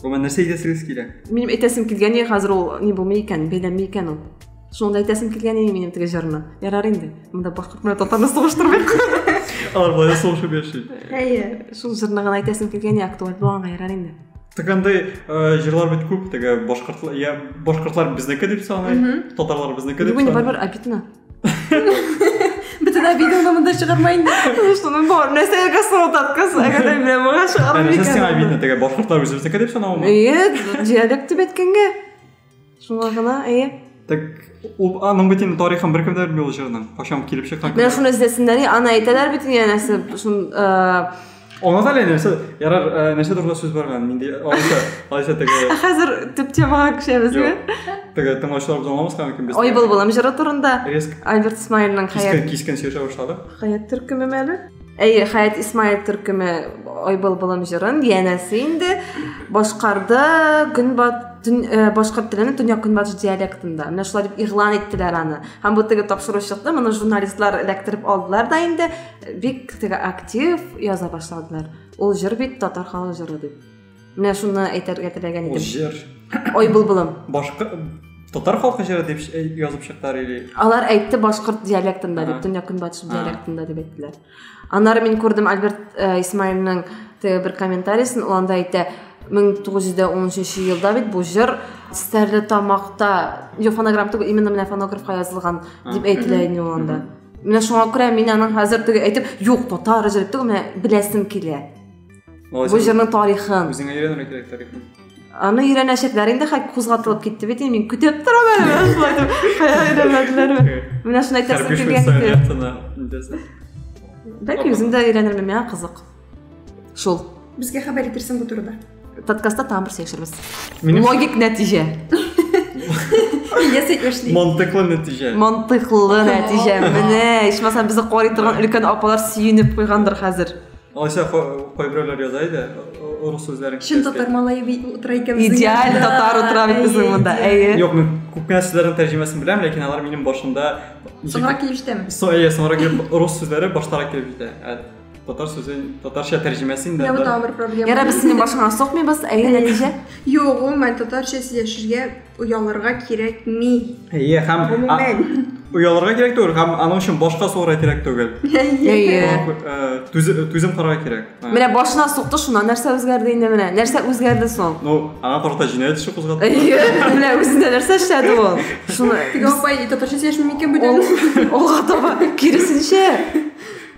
Гомумән нәрсә әйтәсегез килә? Минем әйтәсем килгән иде хәзер ул ни булмый икән, бәйләнми икән ул. Шуны да әйтәсем килгән иде минем теге җырны. Ярар инде. Монда башкорт белән татарны сугыштырмыйк. Алар болай сугышып яши. Әйе. Шул җырны гына әйтәсем килгән иде, актуаль булганга ярар инде. Так андый җырлар бит күп, теге башкортлар, я башкортлар безнеке дип саный, татарлар безнеке дип саный. Бүген барыбер обидно. Бөтен видеоны монда чыгарма инде. Шуның бар. Нәрсә ягасы ул таткас, әгәр дә менә моңа чыгарам Нәрсә сиңа икән. видно, теге башкортлар үзебезнеке дип санавымы? Әйе, диалект дип әйткәнгә. Шуңа гына, әйе. Так, ул аның бит инде тарихын беркем дә белми ул җырның. Кайчан килеп чыккан. Менә шуны эзләсеннәр, и, аны әйтәләр бит инде нәрсә, шун э, Онытып әле нәрсә, ярар, э, нәрсә турында сүз барган, нинди алайса, алайса теге Ә хәзер төп темага күчәбезме? теге тыңлаучылар без аңламаска мөмкин без. Ой былбылым җыры турында Резк Альберт Исмаилның кискен Хәят кискен сөйләшә башлады. Хәят төркеме мәле? Әйе, Хәят Исмаил төркеме Ой былбылым җырын янәсе инде башкарды көнбат төн, э, башкорт телене төньяк-көнбатыш диалектында. Менә шулай дип игълан иттеләр аны. Һәм бу теге тапшыручылыкны моны журналистлар эләктереп алдылар да инде. бик теге актив яза башладылар ул җыр бит татар халык җыры дип менә шуны әйтергә теләгән идем ул җыр ой былбылым башка татар халкы җыры дип э, язып чыктылар или алар әйтте башкорт диалектында дип төньяк көнбатыш диалектында дип әйттеләр аннары мин күрдем альберт э, исмаилның теге бер комментариясен ул анда әйтә 1913 елда бит бу җыр стәрлетамакта фонограмм түгел именно менә фонографка язылган дип әйтелә иде ул анда менә шуңа күрә мин аның хәзер теге әйтеп юк татар җыры түгел менә беләсем килә бу җырның тарихын үзеңә өйрәнергә кирәк тарихын аны өйрәнәчәкләр инде хәк кузгатылып китте бит мин көтеп торам әле менә шулай дип кая өйрәнмәделәрме менә шуны әйтәсем килгән иде бәлки үзем дә өйрәнермен миңа кызык шул безгә хәбәр итерсең бу турыда подкастта тагын бер сөйләшербез логик нәтиҗә ясый эшли мантыклы нәтиҗә мантыклы нәтиҗә менә ичмасам безне карый торган өлкән апалар сөенеп куйгандыр хәзер алайса кайберәүләр яза иде рус сүзләрен чын татар малае утыра икән идеаль татар утыра бит безнең монда әйе юк мин күп кенә сүзләрнең тәрҗемәсен беләм ләкин алар минем башымда соңрак килеп җитәме әйе соңрак килеп рус сүзләре баштарак килеп җитә татар сүзе татарча тәрҗемәсе инде бу тагын бер проблема яра без синең башыңа сукмыйбыз әйе нәтиҗә юк гомумән татарча сөйләшергә оялырга кирәкми әйе һәм гомумән оялырга кирәк түгел һәм аның өчен башка сорарга кирәк түгел әйе түзем карарга кирәк менә башына сукты шуннан нәрсә үзгәрде инде менә нәрсә үзгәрде соң ну аңа карата җинаять эше кузгатты әйе менә үзендә нәрсә эшләде ул шуны теге апай татарча сөйләшми микән бүтән алга таба киресенчә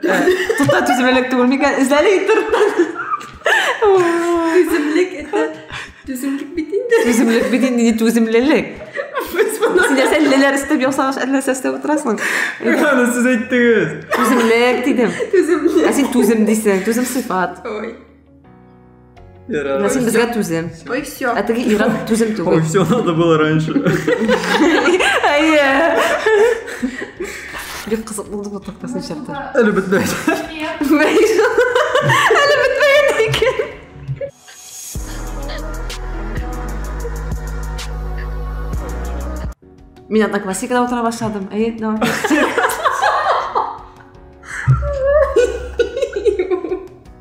Тукта түземлелек түгел микән? Эзләле итер. Түземлек это түземлек бит инде. Түземлек бит инде, не түземлелек. Син нәрсә леләр өстәп ясагач, әллә нәрсә өстәп утырасың. Аны сез әйттегез. Түземлек дидем. Түземлек. Ә син түзем дисең, түзем сыйфат. Ой. Ира, син безгә түзем. Ой, все. Ә теге Ира түзем түгел. Ой, все надо было раньше. Әйе. Бик кызык булды бу тактасын чартар. Әле бетмәй. Әле бетмәгән икән. Мин одноклассникада утыра башладым. Әйе, давай.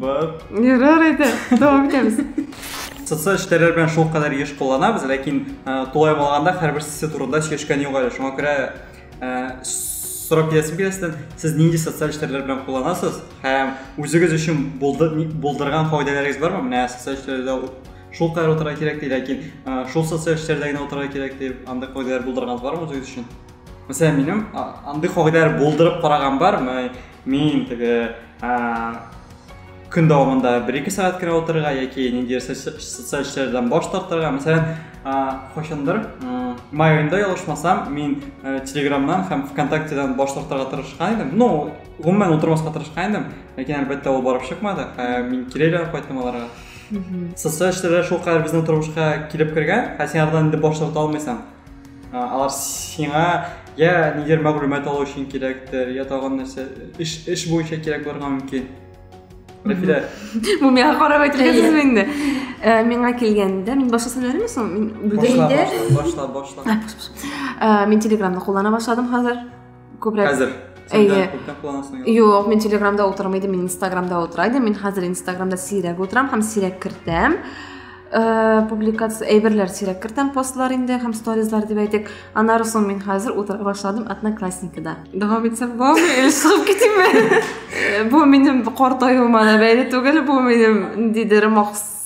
Бар. Ярар әйдә, дәвам итәбез. Социаль эшләр белән шул кадәр еш кулланабыз, ләкин тулай булганда һәрбер сессия турында сөйләшкән юк әле. Шуңа күрә сорап киләсем килә сездән, сез нинди социаль эшләр белән кулланасыз һәм үзегез өчен булдырган файдаларыгыз бармы? Менә социаль эшләрдә шул кадәр утырырга кирәк ди, ләкин шул социаль эшләрдә генә утырырга кирәк дип, андый файдалар булдырганыгыз бармы үзегез өчен? Мәсәлән, минем андый файдалар булдырып караган бар, Мин теге көн дәвамында бер-ике сәгать кенә утырырга яки ниндидер социаль эшләрдән баш тартырга. Мәсәлән, кайчандыр май аенда ялгышмасам, мин э, Телеграмнан һәм ВКонтактедан баш тартырга тырышкан идем. Ну, гомумән утырмаска тырышкан идем, ләкин әлбәттә ул барып чыкмады. Э, мин кире әйләнеп кайттым аларга. Социаль эшләр шулкадәр безнең тормышка килеп кергән, ә син алардан инде баш тарта алмыйсың. алар сиңа я нидер мәгълүмат алу өчен кирәктер я тагын нәрсә эш эш буенча кирәк булырга мөмкин рәфилә бу миңа карап әйтелгәнсезме инде э, миңа килгәндә мин башта сөйләдемме соң мин башла башла башла э, мин телеграмны куллана башладым хәзер көбрәк хәзер Әйе. Юк, мин Телеграмда утырмый идем, мин Инстаграмда утыра идем. Мин хәзер Инстаграмда сирәк утырам һәм сирәк кертәм. Э, публикация әйберләр сирәк кертәм постлар инде һәм сторизлар дип әйтик. Аннары соң мин хәзер утыра башладым Одноклассникида. Дәвам итсәм булмы? Или чыгып китимме? Э, бу минем картаюыма да бәйле түгел, бу минем ниндидер махсус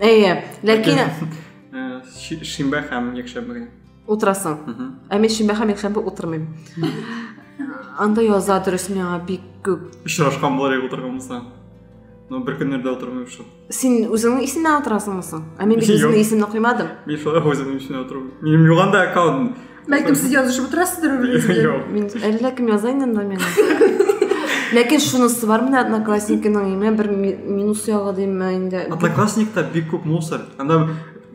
әйе ләкин э, шимбә һәм якшәмбегә утырасың ә мин шимбә һәм якшәмбе утырмыйм анда яза дөрес миңа бик күп очрашкан болар ек утырган булса но бер көннәрдә утырмыйм шул син үзеңнең исемнән утырасыңмы соң ә мин бит үземнең исемне куймадым мин шулай үземнең исемнән утырмыйм минем юганда аккаунт Бәлкем сез язышып отырасыздыр үрегезгә. Мин әллә кем яза инде анда миңа. Ләкин шунысы бар менә одноклассникның име бер минус ягы димме инде. Одноклассникта бик күп мусор. Анда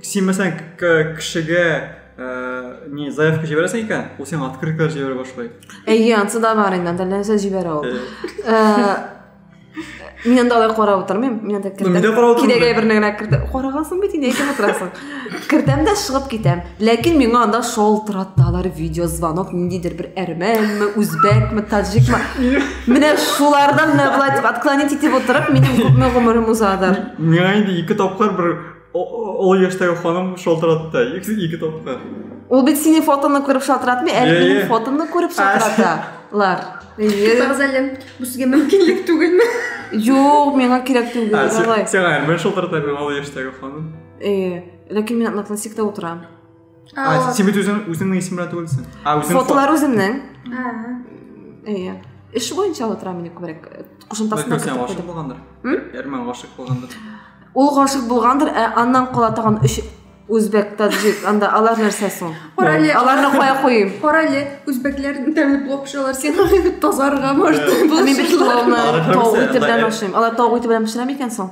син мәсәлән кешегә э, не заявка җибәрәсең икән, ул сиңа открыткалар җибәрә башлый. Әйе, ансы да бар инде, анда нәрсә җибәрә ул. Э, мин анда алай карап утырмыйм мин анда кертәм кирәге әйберне генә кертә карагасын бит инде әйтеп утырасың кертәм дә чыгып китәм ләкин миңа анда шалтыраталар видеозвонок ниндидер бер әрмәнме үзбәкме таҗикмы менә шулардан менә былай дип отклонить итеп утырып минем күпме гомерем узадыр миңа инде ике тапкыр бер Ул яшьтәге ханым шалтыратты ике тапкыр. Ул бит синең фотоны күреп шалтыратмый, әле минем фотомны күреп шалтыраталар. Вокзалем, бу сезгә мөмкинлек түгелме? Юк, миңа кирәк түгел, давай. Сиңа мин шалтыратам, ул яшьтәге ханым. Э, ләкин мин одноклассникта утырам. А, син бит үзең үзеңнең исем белән түгелсең. А, үзең фотолар үземнең. Әйе. Эш буенча утыра мени күбрәк. Кушымтасын да кертеп куйдым. булгандыр. Әрмән гашык булгандыр. Ул гашык булгандыр, ә аннан кала тагын өч үзбәк, таджик, анда алар нәрсә соң? Корале. Аларны кая куйым? Корале, үзбәкләр тәмле плов пешерәләр, син тазарга может. Мин бит пловны тау ите белән ашыйм. Алар тау ите белән пешерә микән соң?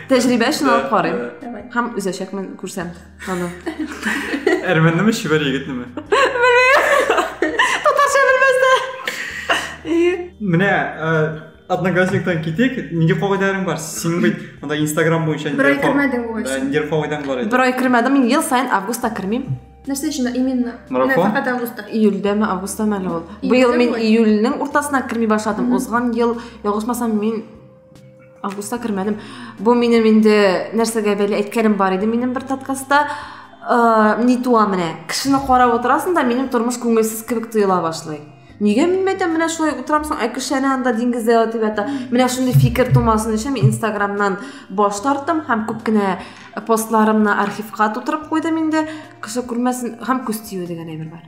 Тәҗрибә өчен алып карыйм. Давай. Һәм өзәчәкмен, күрсәм аны. Әрмәннеме, чибәр егетнеме? Татарча белмәсә. Менә э, одноклассниктан китик. Нинди кагыйдәләрең бар? Син бит анда Instagram буенча Бер ай нинди ка- кермәдең ул Да, өчен. нинди кагыйдәң бар иде? Бер ай кермәдем, мин ел саен августта кермим. Нәрсә өчен именно? Марафон? Менә Фәкать августта. Июльдәме, августта мәле ул. Июльдә Быел мин була. июльнең уртасына керми башладым. Узган ел, ялгышмасам, мин августка кермәдем бу минем инде нәрсәгә бәйле әйткәнем бар иде минем бер подкастта ә, ни туа менә кешене карап утырасың да минем тормыш күңелсез кебек тоела башлый нигә мин мәйтәм менә шулай утырам соң ә кеше әнә анда диңгездә ятып ята менә шундый фикер тумасын өчен мин инстаграмнан баш тарттым һәм күп кенә постларымны архивка тутырып куйдым инде кеше күрмәсен һәм күз тию дигән әйбер бар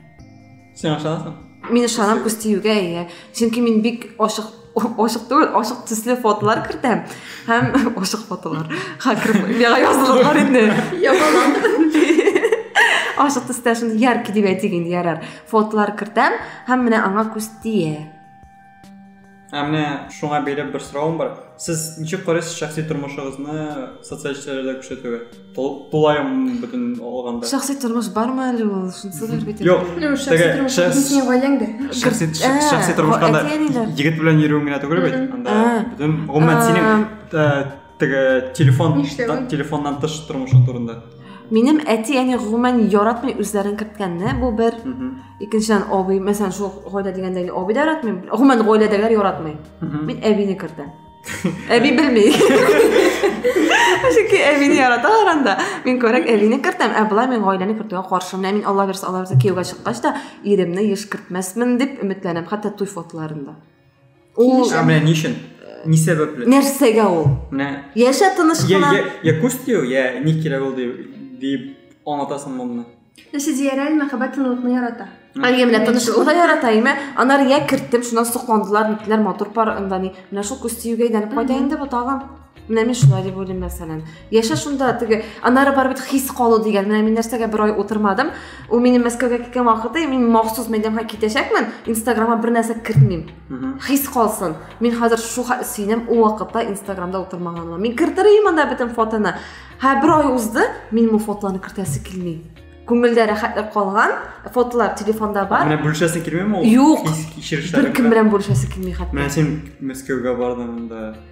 Син ашанасың? Мин ашанам күстиюгә, иә. Чөнки мин бик ашык ашык түгел, ашык төсле фотолар кертәм. Һәм ашык фотолар. Хакер миңа язылып бар инде. Ашык төстә шундый яркий дип әйтик инде, ярар. Фотолар кертәм һәм менә аңа күз тия. Ә менә шуңа бәйле бер соравым бар. Сез ничек карыйсыз шәхси тормышыгызны социаль челтәрләрдә күрсәтүгә? Тулаем бөтен алганда. Шәхси тормыш бармы әле ул? Шунысы да бит. Юк, шәхси тормыш синең гаиләңдә. Шәхси шәхси тормышка да егет белән йөрүең генә түгел бит. Анда бөтен гомумән синең теге телефон телефоннан тыш тормышың турында минем әти әни гомумән яратмый үзләрен керткәнне бу бер икенчедән абый мәсәлән шул гаилә дигәндә абый да яратмый гомумән гаиләдәгеләр яратмый мин әбине кертәм әби белми чөнки әбине яраталар анда мин күбрәк әбине кертәм ә болай мин гаиләне кертүгә каршы менә мин алла бирса алла бирса кияүгә чыккач та иремне еш кертмәсмен дип өметләнәм хәтта туй фотоларында Ул ә менә ни өчен? Ни сәбәпле? Нәрсәгә ул? Менә яшә тыныч кына. Я, я, я күз тию, я ни кирәк ул дип дип аңлатасың моны. Нәрсә диярә, мәхәббәт тынлыкны ярата. Әйе, менә тынычлыгы ярата, әйме. Анар я керттем, шуннан сокландылар, нитләр матур пар, анда ни. Менә шул күз тиюгә әйләнеп кайта инде бу тагын. Менә мин шулай дип уйлыйм, мәсәлән. Яшә шунда, теге, анары бар бит хис калу дигән. Менә мин нәрсәгә бер ай утырмадым. Ул минем Мәскәүгә киткән вакыты, мин махсус мәйданга китәчәкмен, Инстаграмга бер нәрсә кертмим. Хис калсын. Мин хәзер шу сөенәм, ул вакытта Инстаграмда утырмаганыма. Мин кертер идем анда бөтен фотоны. Һә бер ай узды, мин бу фотоларны кертәсе килми. Күңелдә рәхәтлек калган, фотолар телефонда бар. Менә бүлешәсе килмиме ул? Юк. Хис кичерешләре. Бер кем белән бүлешәсе килми хәтта. Менә син Мәскәүгә бардың да.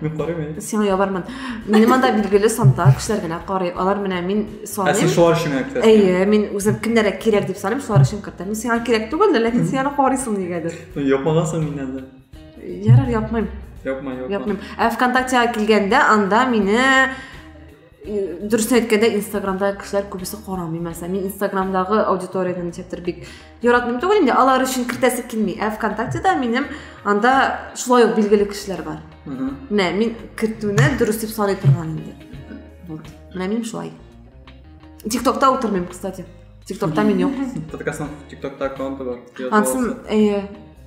Мин карыйм әле. Сиңа ябармын. Минем анда билгеле санда кешеләр генә карый. Алар менә мин саныйм. Ә син шулар өчен генә кертәсең. Әйе, мин үзем кемнәргә кирәк дип саныйм, шулар өчен кертәм. Мин сиңа кирәк түгел, ләкин син аны карыйсың нигәдер. Япмагансың миннән дә. Ярар, япмыйм. Япма, япма. Япмыйм. Ә ВКонтактега килгәндә анда мине дөресен әйткәндә инстаграмда кешеләр күбесе карамый мәсәлән мин инстаграмдагы аудиторияны ничектер бик яратмыйм түгел инде алар өчен кертәсе килми ә вконтактеда минем анда шулай ук билгеле кешеләр бар менә мин кертүне дөрес дип саный торган инде вот менә мин шулай тиктокта утырмыйм кстати тиктокта мин юк подкастның тиктокта аккаунты бар ансын әйе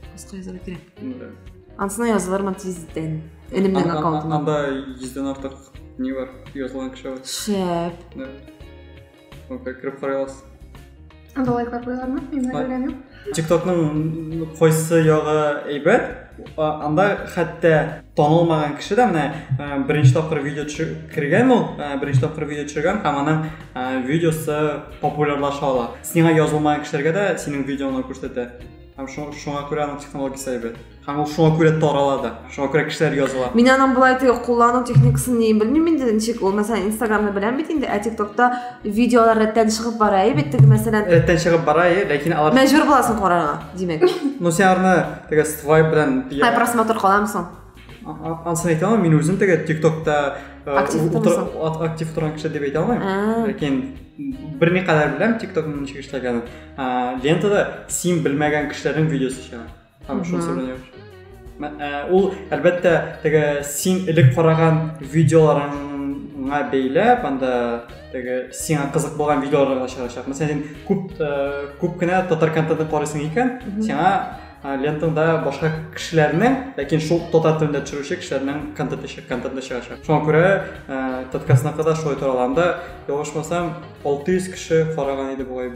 баска язарга кирәк ансына язылырмын тиздән Элемнең аккаунтында. Анда 100-дән артык не бар, язылган кеше бар. Шәп. Да. Онка кереп карый аласыз. Анда лайклар куялармы? Мин белгән юк. TikTokның кайсы ягы әйбәт? Анда хәтта танылмаган кеше дә менә э, беренче тапкыр видео кергән ул, э, беренче тапкыр видео төшергән һәм аның э, видеосы популярлаша ала. Сиңа язылмаган кешеләргә дә синең видеоны күрсәтә. Һәм шуңа күрә аның технологиясе әйбәт. Һәм ул шуңа күрә тарала да, шуңа күрә кешеләр языла. Мин аның болай теге куллану техникасын ни белмим инде ничек ул. Мәсәлән, Инстаграмны беләм бит инде, ә ТикТокта видеолар рәттән чыгып бара, әйе бит теге мәсәлән. Рәттән чыгып бара, әйе, ләкин алар Мәҗбүр буласың карарга, димәк. Ну син арны теге свайп белән. Һай просмотр каламы соң? Ансын әйтә алмыйм, мин үзем теге ТикТокта актив торган кеше дип әйтә алмыйм. Ләкин бер никадәр беләм ТикТокның ничек эшләгәнен. Лентада син белмәгән кешеләрнең видеосы чыга. Хорошо сыгранер. Э, ул әлбәттә теге син элек караган видеоларыңа бәйләп анда теге сиңа кызык булган видеоларга чыгачак мәсәлән син күп э, күп кенә татар контентын карыйсың икән сиңа э, лентаңда башка кешеләрнең ләкин шул татар телендә төшерүче кешеләрнең контенты контенты чыгачак шуңа күрә ә, таткасына кадәр шулай тораланда ялгышмасам алты йөз кеше караган иде бугай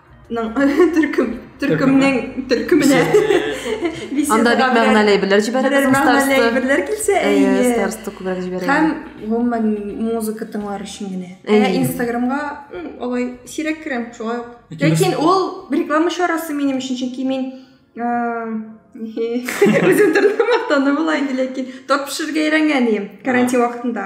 төркем төркемнең төркеменә анда бик мәгънәле әйберләр җибәрәбез мәгънәле әйберләр килсә әйе старсты күбрәк җибәрәбез һәм гомумән музыка тыңлар өчен генә ә инстаграмга алай сирәк керәм шулай ук ләкин ул реклама чарасы минем өчен чөнки мин үзем төрле мактану була инде ләкин торт пешерергә өйрәнгән идем карантин вакытында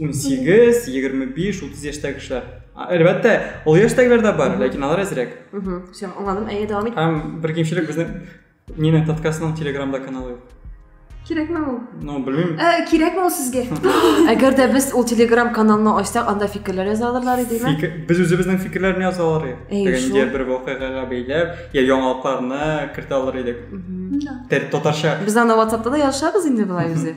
он сегіз егерме биш отыз яшьтәге кешеләр әлбәттә ул яшьтәгеләр дә бар ләкин алар әзрәк все аңладым әйе дәвам ит һәм бер кимчелек безнең нина таткасының телеграмда каналы юк кирәкме ул ну белмим э, кирәкме ул сезгә әгәр дә без ул телеграм каналны ачсак анда фикерләр яза алырлар идеме без үзебезнең фикерләрне яза алар идек әгәр бер вакыйгага бәйләп я яңалыкларны кертә алыр идек татарча без аны ватсапта да язышабыз инде болай үзе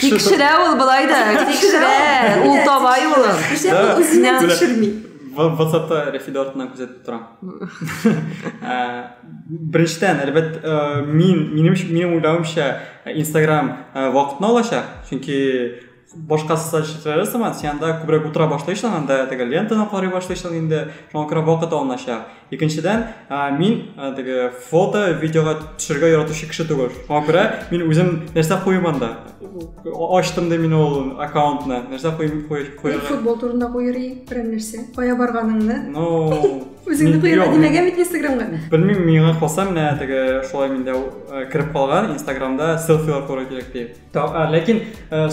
Тикшерә ул былай да, тикшерә. Ул таба юлын. Күрсә, ул үзенә тикшерми. WhatsApp'та Рәфидә артыннан күзәтеп торам. Беренчедән, әлбәт, мин, минем, минем уйлавымча, Instagram вакытны алачак, чөнки башка социаль челтәрләре сыман, син анда күбрәк утыра башлыйсың, анда теге лентаны карый башлыйсың инде, шуңа күрә вакыт алыначак. Икенчедән, мин теге фото, видеога төшергә яратучы кеше түгел. Шуңа күрә мин үзем нәрсә куйым анда? Ачтым да мин ул аккаунтны. Нәрсә куйым куйырга? Футбол турында куйыр идең, берәр нәрсә. Кая барганыңны? Ну, үзеңне куйырга димәгән бит Инстаграмга. Белмим, миңа калса менә теге шулай миндә кереп калган Инстаграмда селфилар куярга кирәк дип. Ләкин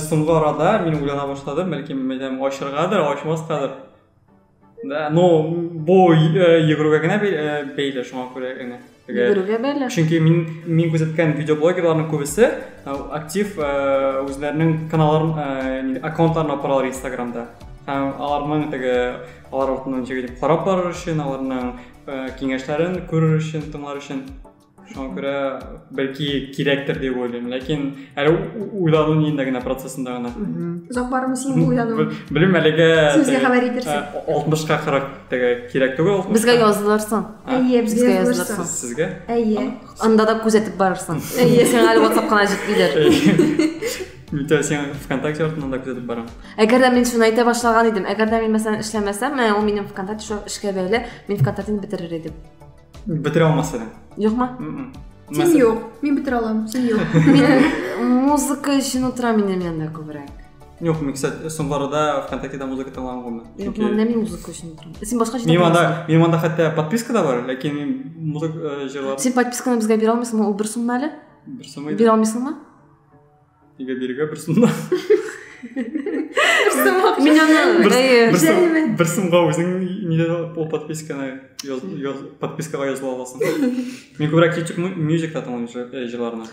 соңгы арада мин уйлана башладым, бәлки мәдәм ачыргадыр, ачмаскадыр. Да, но бу э, йөгерүгә генә э, бәйле шуңа күрә генә. Йөгерүгә бәйле. Чөнки мин мин күзәткән видеоблогерларның күбесе э, актив үзләренең каналларын, аккаунтларын апаралар Инстаграмда. Һәм аларның теге алар артыннан карап барыр өчен, аларның киңәшләрен күрер өчен, тыңлар өчен шуңа күрә бәлки кирәктер дип уйлыйм ләкин әле уйлану ниендә генә процессында гына озак бармы синең уйлану белмим әлегә сүзгә хәбәр итерсең алтмышка кырык теге кирәк түгел безгә язылырсың әйе безгә язылырсың сезгә әйе анда да күзәтеп барырсың әйе сиңа әле ватсап кына җитмидер Митя, сен ВКонтакте артынан да күзәтеп барам. Әгәр дә мин шуны әйтә башлаган идем, әгәр дә мин мәсәлән эшләмәсәм, менә ул минем ВКонтакте шул эшкә бәйле, мин ВКонтактены бетерер идем. бетерә алмас едең юкмы син юк мин бетерә аламын син юк музыка өчен утыра минем янда күбрәк Юк, мин, кстати, соңларда ВКонтактеда музыка тыңлаган булмы? Юк, мин нәми музыка өчен торам. Син башка җирдә. Мин анда, мин анда хәтта подписка да бар, ләкин мин музыка э, җырлап. Син подписканы безгә бирә алмыйсыңмы? Ул бер сумма әле? Бер сумма. Бирә алмыйсыңмы? Нигә бирегә бер сумна? Мин аны бер сумга үзең нидә ул подписканы подпискага языла аласың. Мин күбрәк YouTube Music-та тыңлыйм җырларны.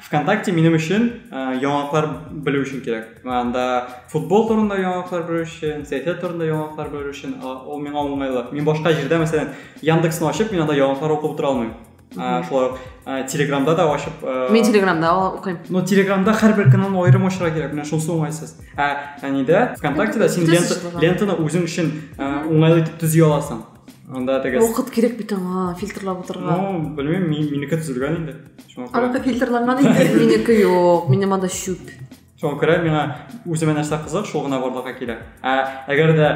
ВКонтакте минем өчен яңалыклар белү өчен кирәк. Анда футбол турында яңалыклар белү өчен, сәясәт турында яңалыклар белү өчен ул миңа уңайлы. Мин башка җирдә, мәсәлән, Яндексны ачып, мин анда яңалыклар укып утыра алмыйм. ә, шулай ук ә, телеграмда да ашып ә, мен телеграмда оқимын но телеграмда һәрбір каналны айырым ашыра керек менә шунысы уңайсыз ә әнидә вконтактеда син лента, лентаны үзең өчен ә, уңайлы итеп төзи аласың анда теге вакыт кирәк бит аңа фильтрлап утырырга ну белмим минеке төзелгән инде аныкы фильтрланган инде минеке юк минем анда чүп шуңа күрә миңа үземә нәрсә кызык шул гына барлыкка килә ә әгәр дә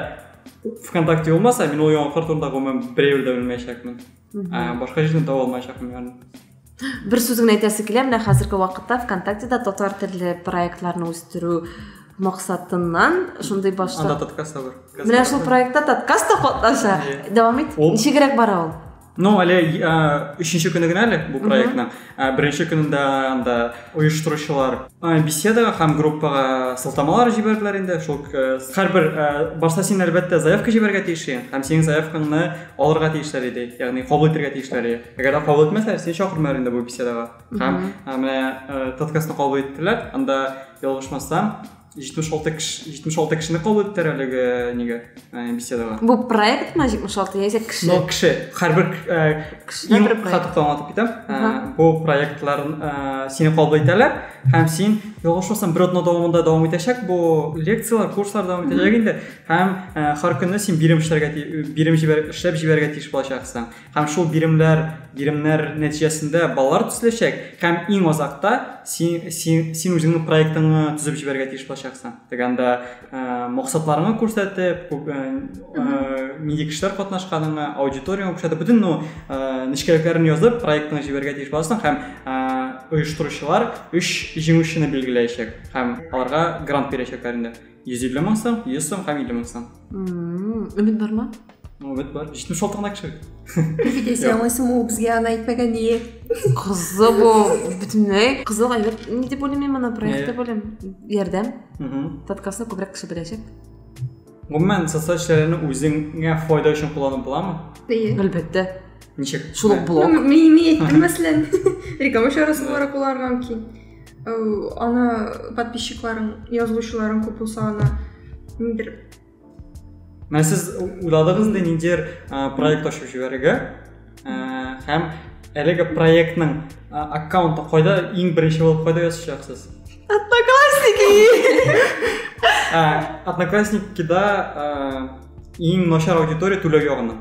вконтакте булмаса мин ул яңалыклар турында гомумән берәү дә белмәячәкмен ә, башка җирдән таба алмаячакмын бәрін бер сүз генә әйтәсе килә менә хәзерге вакытта вконтактеда татар телле проектларны үстерү максатыннан шундый башта анда подкаст та бар менә шул проектта подкаст та катнаша дәвам ит ничегрәк бара ул ну әле өченче көне генә әле бу проектның Ә беренче көнендә анда оештыручылар беседага һәм группага сылтамалар җибәрделәр инде. Шул һәрбер башта син әлбәттә заявка җибәрергә тиеш идең һәм синең заявкаңны алырга тиешләр иде, ягъни кабул итәргә тиешләр иде. Әгәр дә кабул итмәсәләр, сине чакырмыйлар инде бу беседага. Һәм менә подкастны кабул иттеләр. Анда ялгышмасам, җитмеш алты кеше җитмеш алты кешене кабул иттеләр әлеге нигә ә, беседага бу проектмы җитмеш алты яисә кеше ну кеше һәрбер кешедә бер проект хатып аңлатып китәм ә, бу проектлар ә, сине кабул итәләр һәм син ялгышмасам бер атна дәвамында дәвам итәчәк бу лекциялар курслар дәвам итәчәк инде һәм ә, һәр көнне син бирем эшләргә бирем җибәр, эшләп җибәрергә тиеш булачаксың Һәм шул биремләр, биремнәр нәтиҗәсендә балалар төзеләчәк һәм иң азакта син, син, син үзеңнең проектыңны төзеп җибәрергә тиеш булачаксың. Дигәндә, ә, максатларыңны күрсәтеп, күп ә, нинди кешеләр катнашканыңны, аудиторияңа күрсәтеп, бөтен ну, ә, нечкәлекләрен язып, проектыңны җибәрергә тиеш буласың һәм ә, оештыручылар өч җиңүчене билгеләячәк һәм аларга грант бирәчәкләр инде. Йөз илле мең сум, йөз сум һәм илле мең сум. Өмет бармы? Өмет бар. Җитмеш алтыгына кешелек. Китәсе яңлыйсың ул безгә аны әйтмәгән ие. Кызы бу бөтенләй. Кызыл әйбер ни дип уйлыйм мин моны проектта белем. Ярдәм. Подкастны күбрәк кеше беләчәк. Гомумән социаль челтәрне үзеңә файда өчен кулланып буламы? Ие. Әлбәттә. Ничек? Шул блог. Мин әйттем мәсәлән. Реклама чарасы буларак кулланырга мөмкин. Э, аны подписчикларың, язылучыларың күп булса аны ниндер Менә сез уйладыгыз инде ниндидер проект ачып җибәрергә һәм әлеге проектның аккаунты кайда иң беренче булып кайда язачаксыз? Одноклассники! Одноклассникида иң начар аудитория түләү ягына.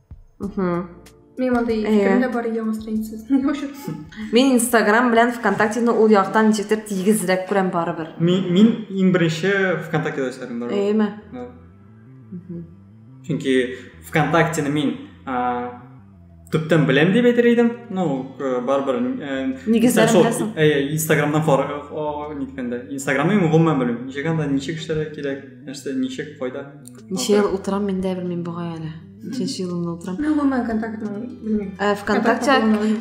мен ондай пікірімде бар иә оған страницасы не вообще мен инстаграм белән вконтактені ол яктан ничектер тигезрәк күрәм барыбер мин иң беренче вконтактеда эшләдем барыбер әйеме чөнки вконтактені мин төптән беләм дип әйтер идем ну барыбер нигезләрен беләсең әйе инстаграмнан ниткәндә инстаграмны мин гомумән белмим ничек анда ничек эшләргә кирәк нәрсә ничек кайда Ничә ел утырам, мин дә белмим бугай әле. Ничәнче елымны утырам. Мин гомумән контактны белмим. Ә, ВКонтакте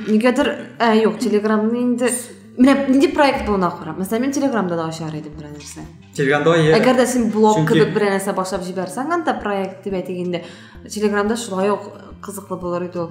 нигәдер, ә, юк, Телеграмны инде Менә нинди проект булуына карап. Мәсәлән, мин Телеграмда да ачар идем берәр нәрсә. Телеграмда я. Әгәр дә син блог Чөнки... кебек берәр нәрсә башлап җибәрсәң, анда проект дип әйтик инде. Телеграмда шулай ук кызыклы булыр иде ул.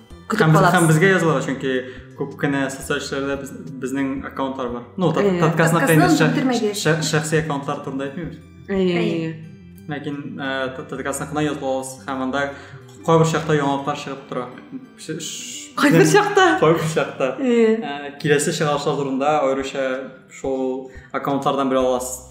көтеп калабыз һәм безгә язылырга чөнки күп кенә социаль челтәрләрдә без, безнең аккаунтлар бар ну подкастны инде шәхси аккаунтлар турында әйтмибез әйе ләкин подкастны кына язып алабыз һәм анда кайбер чакта яңалыклар чыгып тора кайбер чакта кайбер чакта киләсе чыгарышлар турында аеруча шул аккаунтлардан белә аласыз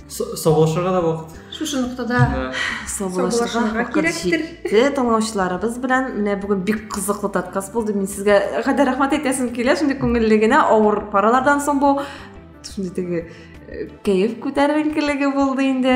саубуллашырга да вакыт шушы ноктада саубуллашырга вакыт җитте тыңлаучыларыбыз белән менә бүген бик кызыклы подкаст булды мин сезгә гади рәхмәт әйтәсем килә шундый күңелле генә авыр паралардан соң бу шундый теге э, кәеф күтәренкелеге булды инде